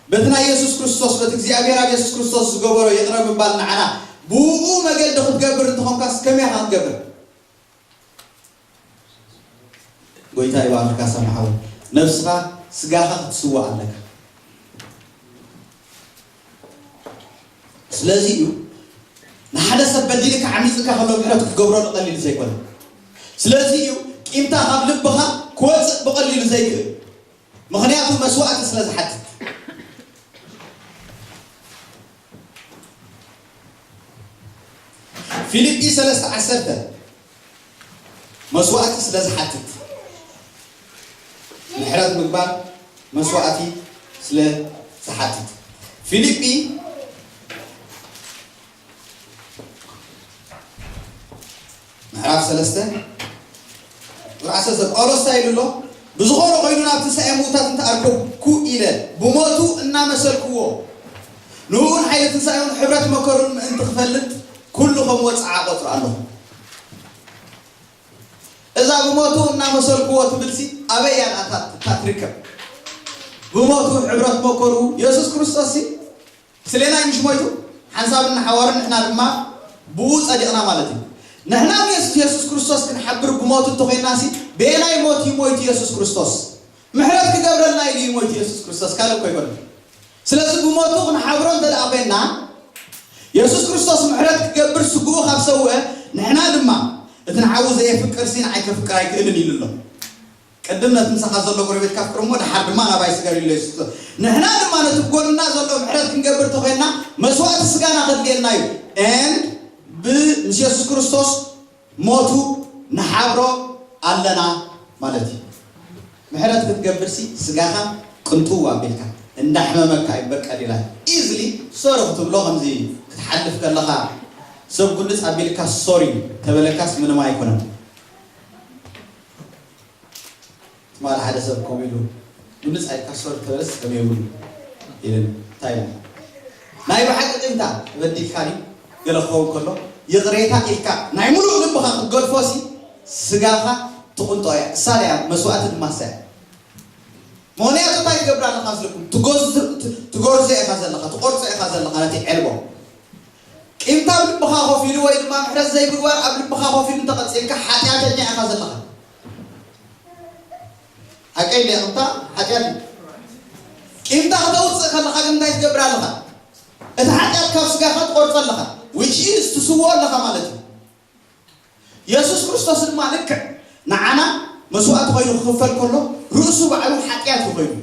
በቲ ናይ የሱስ ክርስቶስ በቲ እግዚኣብሔር ኣብ የሱስ ክርስቶስ ዝገበሮ ይቕረ ምባል ንዓና ብኡኡ መገዲ ክትገብር እንተኾንካስ ከመይ ኢኻ ክትገብር ጎይታ ይባርካ ሰማሓዊ ነብስኻ ስጋኻ ክትስዋእ ኣለካ ስለዚ እዩ ንሓደ ሰብ በዲልካ ዓሚጽካ ከሎ ምሕረት ክትገብረሉ ቀሊል ዘይኮነ። ስለዚ እዩ ቂምታ ካብ ልብኻ ክወጽእ ብቐሊሉ ዘይክእል። ምኽንያቱ መስዋእቲ ስለ ዝሓትት። ፊልጲ ሰለስተ ዓሰርተ መስዋእቲ ስለ ዝሓትት ምሕረት ምግባር መስዋእቲ ስለ ዝሓትት ፊሊጲ ምዕራፍ ሰለስተ ቁጥሪ ዓሰርተ ጳውሎስ እንታይ ኢሉ ኣሎ? ብዝኾነ ኮይኑ ናብ ትንሳኤ ምውታት እንተኣርከብኩ ኢለ ብሞቱ እናመሰልክዎ ንእኡን ሓይሊ ትንሳኤኡን ሕብረት መከሩን ምእንቲ ክፈልጥ ኩሉ ከም ወጽዓ እቆጽሮ ኣሎኹ። እዛ ብሞቱ እናመሰልኩዎ ትብልሲ ኣበይ እያ ደኣ እታ ትርከብ? ብሞቱ ሕብረት መከሩ የሱስ ክርስቶስሲ ምስሌና እዩ ምሽ ሞይቱ? ሓንሳብ እንሓዋሩ ንሕና ድማ ብእኡ ጸዲቕና ማለት እዩ። ንሕና ምስ የሱስ ክርስቶስ ክንሓብር ብሞቱ እንተ ዄንናሲ በየናይ ሞት እዩ ሞይቱ የሱስ ክርስቶስ? ምሕረት ክገብረልና ኢሉ እዩ ሞይቱ የሱስ ክርስቶስ ካልእ እኮ ኣይኮነን ስለዚ ብሞቱ ክንሓብሮ እንተ ደኣ ኮይንና የሱስ ክርስቶስ ምሕረት ክገብር ስግኡ ካብ ሰውእ ንሕና ድማ እቲ ንሓዉ ዘየፍቅር ሲ ንዓይ ከፍቅር ኣይክእልን ኢሉ ኣሎ ቅድም ነቲ ምሳኻ ዘሎ ጎረቤትካ ኣፍቅር እሞ ደሓር ድማ ናባይ ስገር ኢሉ የሱስ ክርስቶስ ንሕና ድማ ነቲ ጎንና ዘሎ ምሕረት ክንገብር እንተ ኮይንና መስዋእቲ ስጋና ከድልየና እዩ ን ብ ምስ የሱስ ክርስቶስ ሞቱ ንሓብሮ ኣለና ማለት እዩ ምሕረት ክትገብር ሲ ስጋኻ ቅንጥው ኣቢልካ እንዳሕመመካ እዩ እምበር ቀሊል ኢዝሊ ሶሪ ክትብሎ ከምዚ ክትሓልፍ ከለኻ ሰብ ጉልጽ ኣቢልካ ሶሪ ተበለካስ ምንም ኣይኮነን። ትማል ሓደ ሰብ ከምኡ ኢሉ ንምጻይ ካሶር ተረስ ከመይ እውን ኢልን እንታይ ኢልና ናይ ብሓቂ ቂምታ ተበዲልካኒ ገለ ክኸውን ከሎ ይቕሬታ ኢልካ ናይ ምሉእ ልብኻ ክትገድፎ ሲ ስጋኻ ትቕንጦ እያ እሳ ደያ መስዋእቲ ድማ እሳ እያ ምክንያቱ እንታይ ትገብር ኣለኻ ስለኩም ትጎርዞ ኢኻ ዘለኻ ትቆርጾ ኢኻ ዘለኻ ነቲ ዕልቦ ቂምታ ኣብ ልብኻ ኮፍ ኢሉ ወይ ድማ ምሕረት ዘይምግባር ኣብ ልብኻ ኮፍ ኢሉ እንተቐጺልካ ሓጢኣተኛ ኢኻ ዘለኻ ሓቀይ ድያ ቅብታ ሓጢኣት እዩ ቂምታ ከተውፅእ ከለኻ ግን እንታይ ትገብር ኣለኻ እቲ ሓጢኣት ካብ ስጋኻ ትቆርፆ ኣለኻ which is ትስውኦ ኣለኻ ማለት እዩ የሱስ ክርስቶስ ድማ ልክዕ ንዓና መስዋእቲ ኮይኑ ክኽፈል ከሎ ርእሱ ባዕሉ ሓጢኣት እዩ ኮይኑ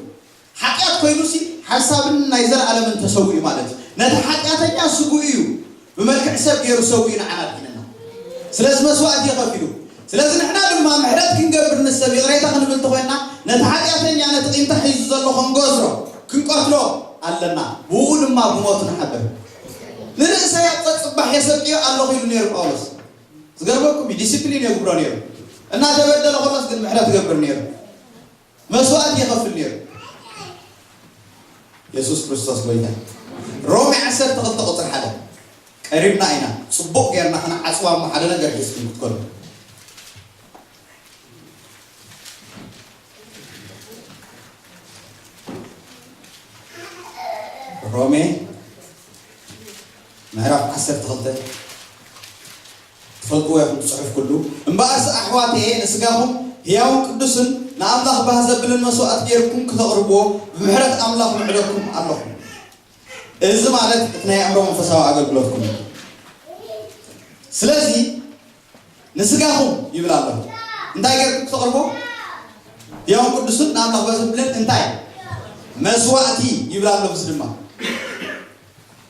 ሓጢኣት ኮይኑሲ ሓንሳብን ናይ ዘለኣለምን ተሰዊኡ ማለት እዩ። ነቲ ሓጢኣተኛ ስግኡ እዩ ብመልክዕ ሰብ ገይሩ ሰዊኡ ንዓና ኣድሒነና። ስለዚ መስዋእቲ ከፊሉ። ስለዚ ንሕና ድማ ምሕረት ክንገብር ንሰብ ይቕሬታ ክንብል ተኾይንና ነቲ ሓጢኣተኛ ነቲ ቂምታ ሒዙ ዘሎ ክንጎዝሮ፣ ክንቀትሎ፣ ኣለና። ብእኡ ድማ ብሞቱ ንሓብር። ንርእሰይ ኣብ ጸጽባሕ የሰቅዮ ኣለኹ ኢሉ ነይሩ ጳውሎስ። ዝገርመኩም እዩ ዲሲፕሊን የጉብሮ ነይሩ። እናተበደለ ከሎስ ግን ምሕረት ይገብር ነይሩ። መስዋእቲ ይኸፍል ነይሩ የሱስ ክርስቶስ ጎይታ እዩ። ሮሜ ዓሰርተ ክልተ ቁፅሪ ሓደ ቀሪብና ኢና ፅቡቕ ጌርና ክንዓፅዋ እሞ ሓደ ነገር ሒዝኩም ክትከሉ ሮሜ ምዕራፍ ዓሰርተ ክልተ ትፈልጥዎ ኢኹም ትጽሕፍ ኩሉ እምበኣርሲ ኣሕዋተየ ንስጋኹም ህያውን ቅዱስን ንኣምላኽ ባህ ዘብልን መስዋእት ገይርኩም ክተቕርብዎ ብምሕረት ኣምላኽ ምዕደኩም ኣሎኹ እዚ ማለት እቲ ናይ ኣእምሮ መንፈሳዊ ኣገልግሎትኩም እዩ ስለዚ ንስጋኹም ይብል ኣሎ እንታይ ገይርኩም ክተቕርብዎ ህያውን ቅዱስን ንኣምላኽ ባህ ዘብልን እንታይ መስዋእቲ ይብል ኣሎ ምስ ድማ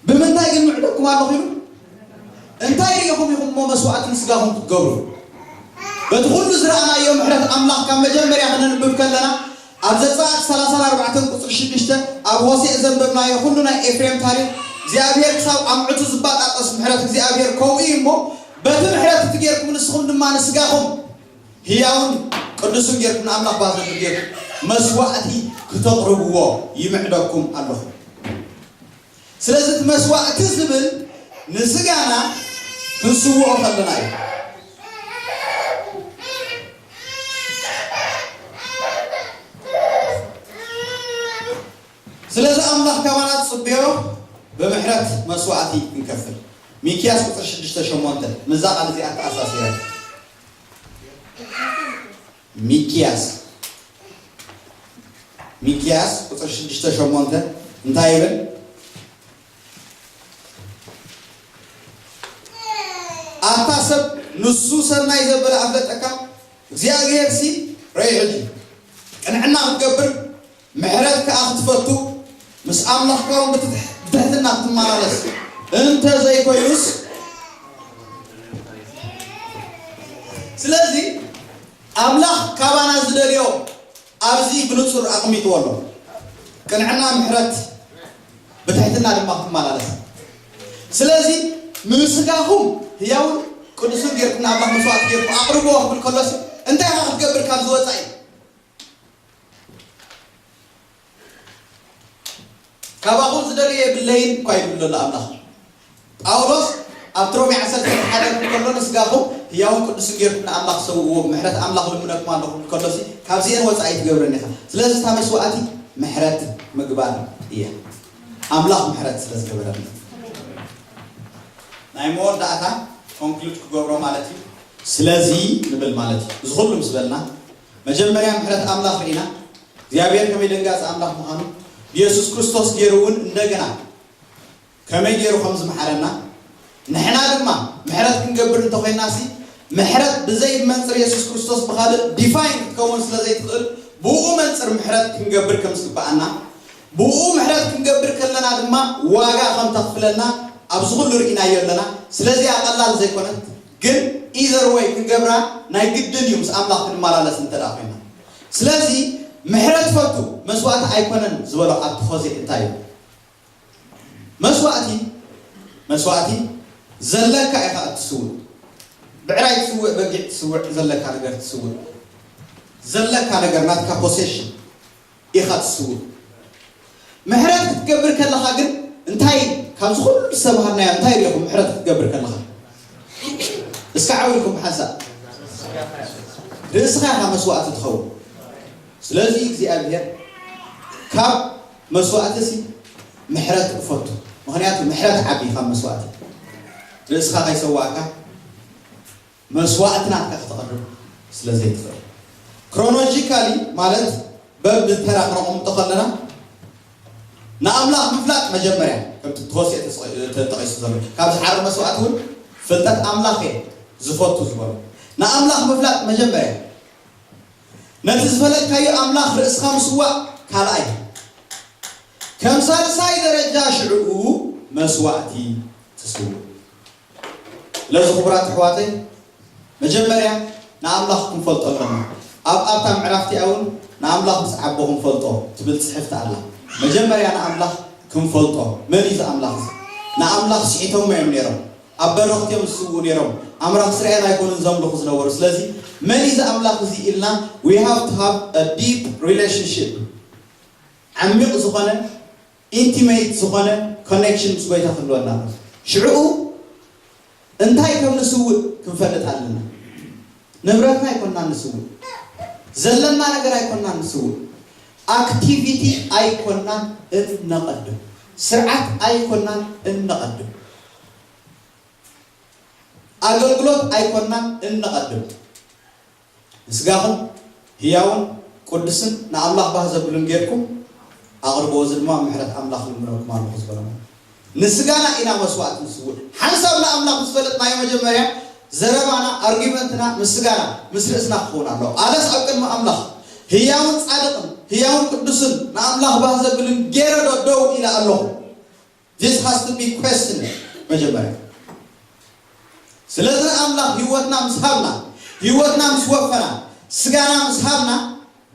ብምንታይ ግን ምዕዶኩም ኣሎ ኺኑ? እንታይ ርኢኹም ኢኹም እሞ መስዋእቲ ንስጋኹም ክትገብሩ? በቲ ኹሉ ዝረኣናዮ ምሕረት ኣምላኽ ካብ መጀመርያ ክነንብብ ከለና ኣብ ዘጸኣት ሰላሳን ኣርባዕተን ቁጽሪ ሽዱሽተ ኣብ ሆሴእ ዘንበብናዮ ኹሉ ናይ ኤፍሬም ታሪኽ እግዚኣብሄር ክሳብ ኣምዕቱ ዝባጣጠስ ምሕረት እግዚኣብሄር ከምኡ እዩ እሞ በቲ ምሕረት እቲ ጌርኩም ንስኹም ድማ ንስጋኹም ህያውን ቅዱስን ጌርኩም ንኣምላኽ ባብ ዝኽሪ ጌርኩም መስዋእቲ ክተቕርብዎ ይምዕደኩም ኣሎኹ። ስለዚ እቲ መስዋእቲ ዝብል ንስጋና ክንስውኦ ከለና እዩ። ስለዚ ኣምላኽ ካባና ዝጽበዮ ብምሕረት መስዋእቲ ክንከፍል ሚክያስ ቁጽሪ ሽዱሽተ ሸሞንተ ምስዛ ቃል እዚኣ ተኣሳሲረ ሚኪያስ ሚኪያስ ቁፅሪ ሽዱሽተ ሸሞንተ እንታይ ይብል? ኣታ ሰብ ንሱ ሰናይ ዘበለ ኣፍለጠካ እግዚኣብሄር ሲ ረይዕት እዩ ቅንዕና ክትገብር ምሕረት ከኣ ክትፈቱ፣ ምስ ኣምላኽካውን ብትሕትና ክትመላለስ እንተ ዘይኮይኑስ። ስለዚ ኣምላኽ ካባና ዝደልዮ ኣብዚ ብንጹር ኣቕሚጥዎ ኣሎ፣ ቅንዕና፣ ምሕረት፣ ብትሕትና ድማ ክትመላለስ። ስለዚ ንስጋኹም ህያውን ቅዱስን ጌርኩም ንኣምላኽ መስዋእቲ ጌርኩም ኣቕርብዎ ክብል ከሎሲ እንታይ ኢኻ ክትገብር ካብዚ ወጻኢ? ካባኹም ዝደልዮ የብለይን እኳ ይብል ዘሎ ኣምላኽ። ጳውሎስ ኣብቲ ሮሜ ዓሰርተ ሓደ ክብል ከሎ ንስጋኹም ህያውን ቅዱስን ጌርኩም ንኣምላኽ ሰውእዎ ብምሕረት ኣምላኽ እልምነኩም ኣለኹ ክብል ከሎሲ ካብዚኤን ወጻኢ ኣይትገብርን ኢኻ ስለዚ እታ መስዋእቲ ምሕረት ምግባር እያ ኣምላኽ ምሕረት ስለ ዝገበረልና ናይ መወዳእታ ኮንክሉድ ክገብሮ ማለት እዩ ስለዚ ንብል ማለት እዩ እዚ ኩሉ ምስ በልና መጀመርያ ምሕረት ኣምላኽ ርኢና እግዚኣብሔር ከመይ ደንጋጺ ኣምላኽ ምዃኑ ብየሱስ ክርስቶስ ጌሩ እውን እንደገና ከመይ ጌሩ ከም ዝመሓረና ንሕና ድማ ምሕረት ክንገብር እንተኾይና ሲ ምሕረት ብዘይ መንጽር የሱስ ክርስቶስ ብኻልእ ዲፋይን ክትከውን ስለ ዘይትኽእል ብኡ መንጽር ምሕረት ክንገብር ከም ዝግብኣና ብኡ ምሕረት ክንገብር ከለና ድማ ዋጋ ከም ተኽፍለና ኣብዚ ኩሉ ርኢናዮ ኣለና ስለዚኣ ቀላል ዘይኮነት ግን ኢዘር ወይ ክንገብራ ናይ ግድን እዩ ምስ ኣምላኽ ክንማላለስ እንተ ኮይና ስለዚ ምሕረት ፈቱ መስዋእቲ ኣይኮነን ዝበሎ ኣብቲ ኾዜ እንታይ እዩ መስዋእቲ መስዋእቲ ዘለካ ኢኻ እትስውእ ብዕራይ ትስውእ በጊዕ ትስውዕ ዘለካ ነገር ትስውእ ዘለካ ነገር ናትካ ፖሴሽን ኢኻ ትስውእ። ምሕረት ክትገብር ከለኻ ግን እንታይ ካብዚ ኩሉ ዝተማሃርናዮ እንታይ ሪኢኹም ምሕረት ክትገብር ከለኻ? እስከ ዓው ኢልኩም ብሓንሳእ። ርእስኻ ኢኻ መስዋእቲ ትኸውን። ስለዚ እግዚኣብሄር ካብ መስዋእቲሲ ምሕረት እፈቱ። ምኽንያቱ ምሕረት ዓቢ ካብ መስዋእቲ። ርእስኻ ከይሰዋእካ መስዋእቲ ናትካ ከተቕርብ ስለ ዘይትኽእል። ክሮኖጂካሊ ማለት በብ ተራ ክነቐምጦ ከለና ንኣምላኽ ምፍላጥ መጀመርያ ከምቲ ብሆሴ ተጠቒሱ ዘሎ ካብ ዝሓርር መስዋእቲ እውን ፍልጠት ኣምላኽ እየ ዝፈቱ ዝበሎ ንኣምላኽ ምፍላጥ መጀመርያ ነቲ ዝፈለጥካዮ ኣምላኽ ርእስኻ ምስዋእ ካልኣይ ከም ሳልሳይ ደረጃ ሽዕኡ መስዋእቲ ትስውእ። ስለዚ ክቡራት ኣሕዋተይ መጀመርያ ንኣምላኽ ክንፈልጦ ኣለና ኣብ ኣብታ ምዕራፍ እቲኣ ውን ንኣምላኽ ብጸዓቦ ክንፈልጦ ትብል ጽሕፍቲ ኣላ መጀመርያ ንኣምላኽ ክንፈልጦ መን እዩ እዚ ኣምላኽ እዚ ንኣምላኽ ስሒቶሞ እዮም ነይሮም ኣብ በረኽት እዮም ዝስውኡ ነይሮም ኣምራኽ እስራኤል ኣይኮኑን ዘምልኹ ዝነበሩ ስለዚ መን እዩ እዚ ኣምላኽ እዚ ኢልና we have to have a deep relationship ዓሚቕ ዝኾነ ኢንቲመይት ዝኾነ ኮኔክሽን ምስ ጎይታ ክህልወና ኣለዎ ሽዕኡ እንታይ ከም ንስውእ ክንፈልጥ ኣለና ንብረትና ኣይኮናን ንስውእ ዘለና ነገር ኣይኮናን ንስውእ ኣክቲቪቲ ኣይኮናን እነቐድም ስርዓት ኣይኮናን እነቐድም ኣገልግሎት ኣይኮናን እነቐድም ንስጋኹም ህያውን ቁድስን ንኣምላኽ ባህ ዘብልን ጌርኩም ኣቕርብዎ እዚ ድማ ምሕረት ኣምላኽ እልምነልኩም ኣሎኹ ዝበሎም እዩ። ንስጋና ኢና መስዋእቲ ንስውእ። ሓንሳብ ንኣምላኽ ምስ ፈለጥናዮ መጀመርያ ዘረባና፣ ኣርጊመንትና፣ ምስ ስጋና፣ ምስ ርእስና ክኸውን ኣሎዎ። ኣነስ ኣብ ቅድሚ ኣምላኽ ህያውን ጻድቕን፣ ህያውን ቅዱስን፣ ንኣምላኽ ባህ ዘብልን ጌረዶ ደው ኢለ ኣሎኹ? This has to be questioned መጀመርያ ስለዚ ኣምላኽ ህይወትና ምስ ሃብና ህይወትና ምስ ወፈና ስጋና ምስ ሃብና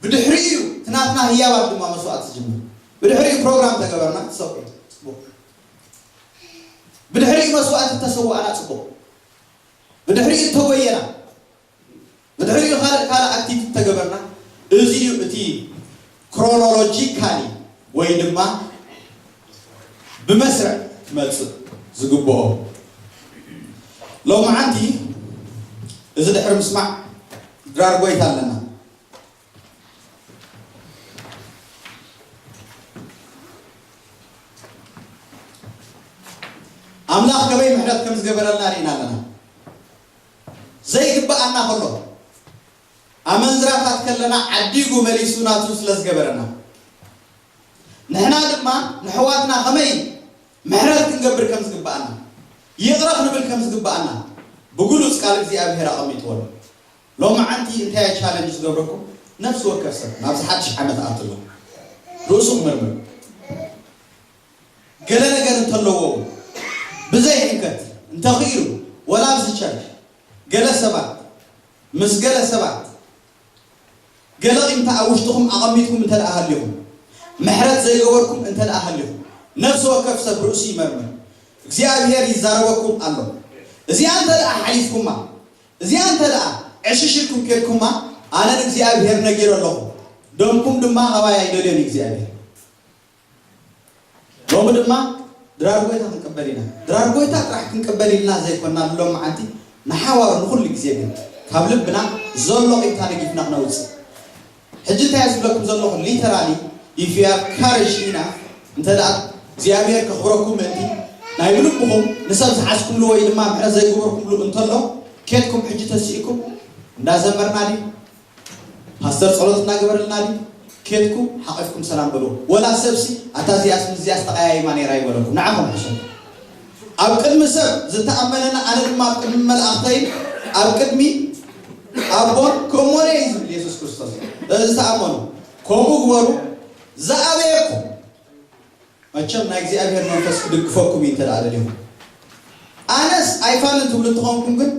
ብድሕሪኡ እዩ እቲ ናትና ህያባት ድማ መስዋእቲ ዝጅምር ብድሕሪኡ ፕሮግራም ተገበርና ሰቁ ፅቡቅ ብድሕሪኡ መስዋእቲ ተሰዋእና ፅቡቅ ብድሕሪኡ ተጎየና ብድሕሪኡ ካልእ ካልእ ኣክቲቭ እንተገበርና እዚ እዩ እቲ ክሮኖሎጂካሊ ወይ ድማ ብመስርዕ ክመጽእ ዝግብኦ። ሎምዓንቲ እዚ ድሕሪ ምስማዕ ድራር ጎይታ ኣለና። ኣምላኽ ከመይ ምሕረት ከም ዝገበረልና ርኢና ኣለና። ዘይግብኣና ከሎ ኣመንዝራታት ከለና ዓዲጉ መሊሱ ናቱ ስለ ዝገበረና ንሕና ድማ ነሕዋትና ከመይ ምሕረት ክንገብር ከም ዝግብኣና ይቕረ ክንብል ከም ዝግብኣና ብግሉጽ ቃል እግዚኣብሄር ኣቐሚጥዎ ኣሎ። ሎምዓንቲ እንታይ እየ ቻለንጅ ዝገብረኩም ነፍሲ ወከፍ ሰብ ናብዚ ሓድሽ ዓመት ኣትሎ ርእሱ ክምርምር። ገለ ነገር እንተለዎ እውን ብዘይ ሕንከት እንተኽኢሉ ወላ ኣብዚ ቸርች ገለ ሰባት ምስ ገለ ሰባት ገለ ቂምታ ኣብ ውሽጥኹም ኣቐሚጥኩም እንተድኣ ሃሊኹም ምሕረት ዘይገበርኩም እንተድኣ ሃሊኹም ነፍሲ ወከፍ ሰብ ርእሱ ይመርምር እግዚኣብሄር ይዛረበኩም ኣሎ እዚኣ እንተድኣ ሓሊፍኩማ እዚኣ እንተድኣ ዕሽሽ ኢልኩም ኬድኩማ ኣነ ንእግዚኣብሄር ነጊረ ኣለኹ ደምኩም ድማ ካባይ ኣይደልዮን እዩ እግዚኣብሄር ሎሚ ድማ ድራር ጎይታ ክንቅበል ኢና። ድራር ጎይታ ጥራሕ ክንቅበል ኢልና ዘይኮና ንሎሚ መዓልቲ ንሓዋሩ ንኹሉ ግዜ ግን ካብ ልብና ዘሎ ቂምታ ነጊፍና ክነውጽእ። ሕጂ እንታይ እየ ዝብለኩም ዘለኹ ሊተራሊ ኢፍ ዩ ሃቭ ካሬጅ ኢናፍ እንተ እግዚኣብሄር ከኽብረኩም ምእንቲ ናይ ብልብኹም ንሰብ ዝሓዝኩምሉ ወይ ድማ ምሕረት ዘይገበርኩምሉ እንተሎ ኬድኩም ሕጂ ተሲእኩም እንዳዘመርና ድዩ ፓስተር ጸሎት እንዳገበረልና ድዩ ኬድኩም ሓቂፍኩም ሰላም በልዎ ወላ ሰብ ሲ ኣታ እዚኣስ ምስዚኣስ ተቀያይማ ነይራ ይበለኩም ንዓኹም ሕሸኒ ኣብ ቅድሚ ሰብ ዝተኣመነኒ ኣነ ድማ ኣብ ቅድሚ መላእኽተይን ኣብ ቅድሚ ኣቦን ክእሞነ እዩ ዝብል የሱስ ክርስቶስ ስለዚ ተኣመኑ ከምኡ ግበሩ ዝኣበየኩም መቸም ናይ እግዚኣብሔር መንፈስ ክድግፈኩም እዩ እንተ ደሊኹም ኣነስ ኣይፋልን ትብሉ እንተኾንኩም ግን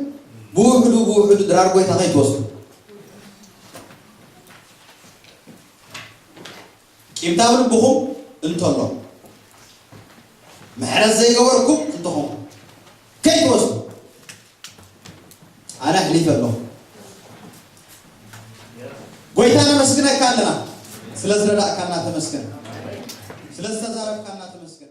ብውሕዱ ብውሕዱ ድራር ጎይታ ከይትወስዱ ቂምታ ኣብ ልብኹም እንተሎ ምሕረት ዘይገበርኩም እንተኾንኩም ከይትወስዱ ኣነ ኣሕሊፈ ኣለኹ። ጎይታ ነመስግነካ ኣለና ስለ ዝረዳእካና ተመስገን ስለ ዝተዛረብካና ተመስገን።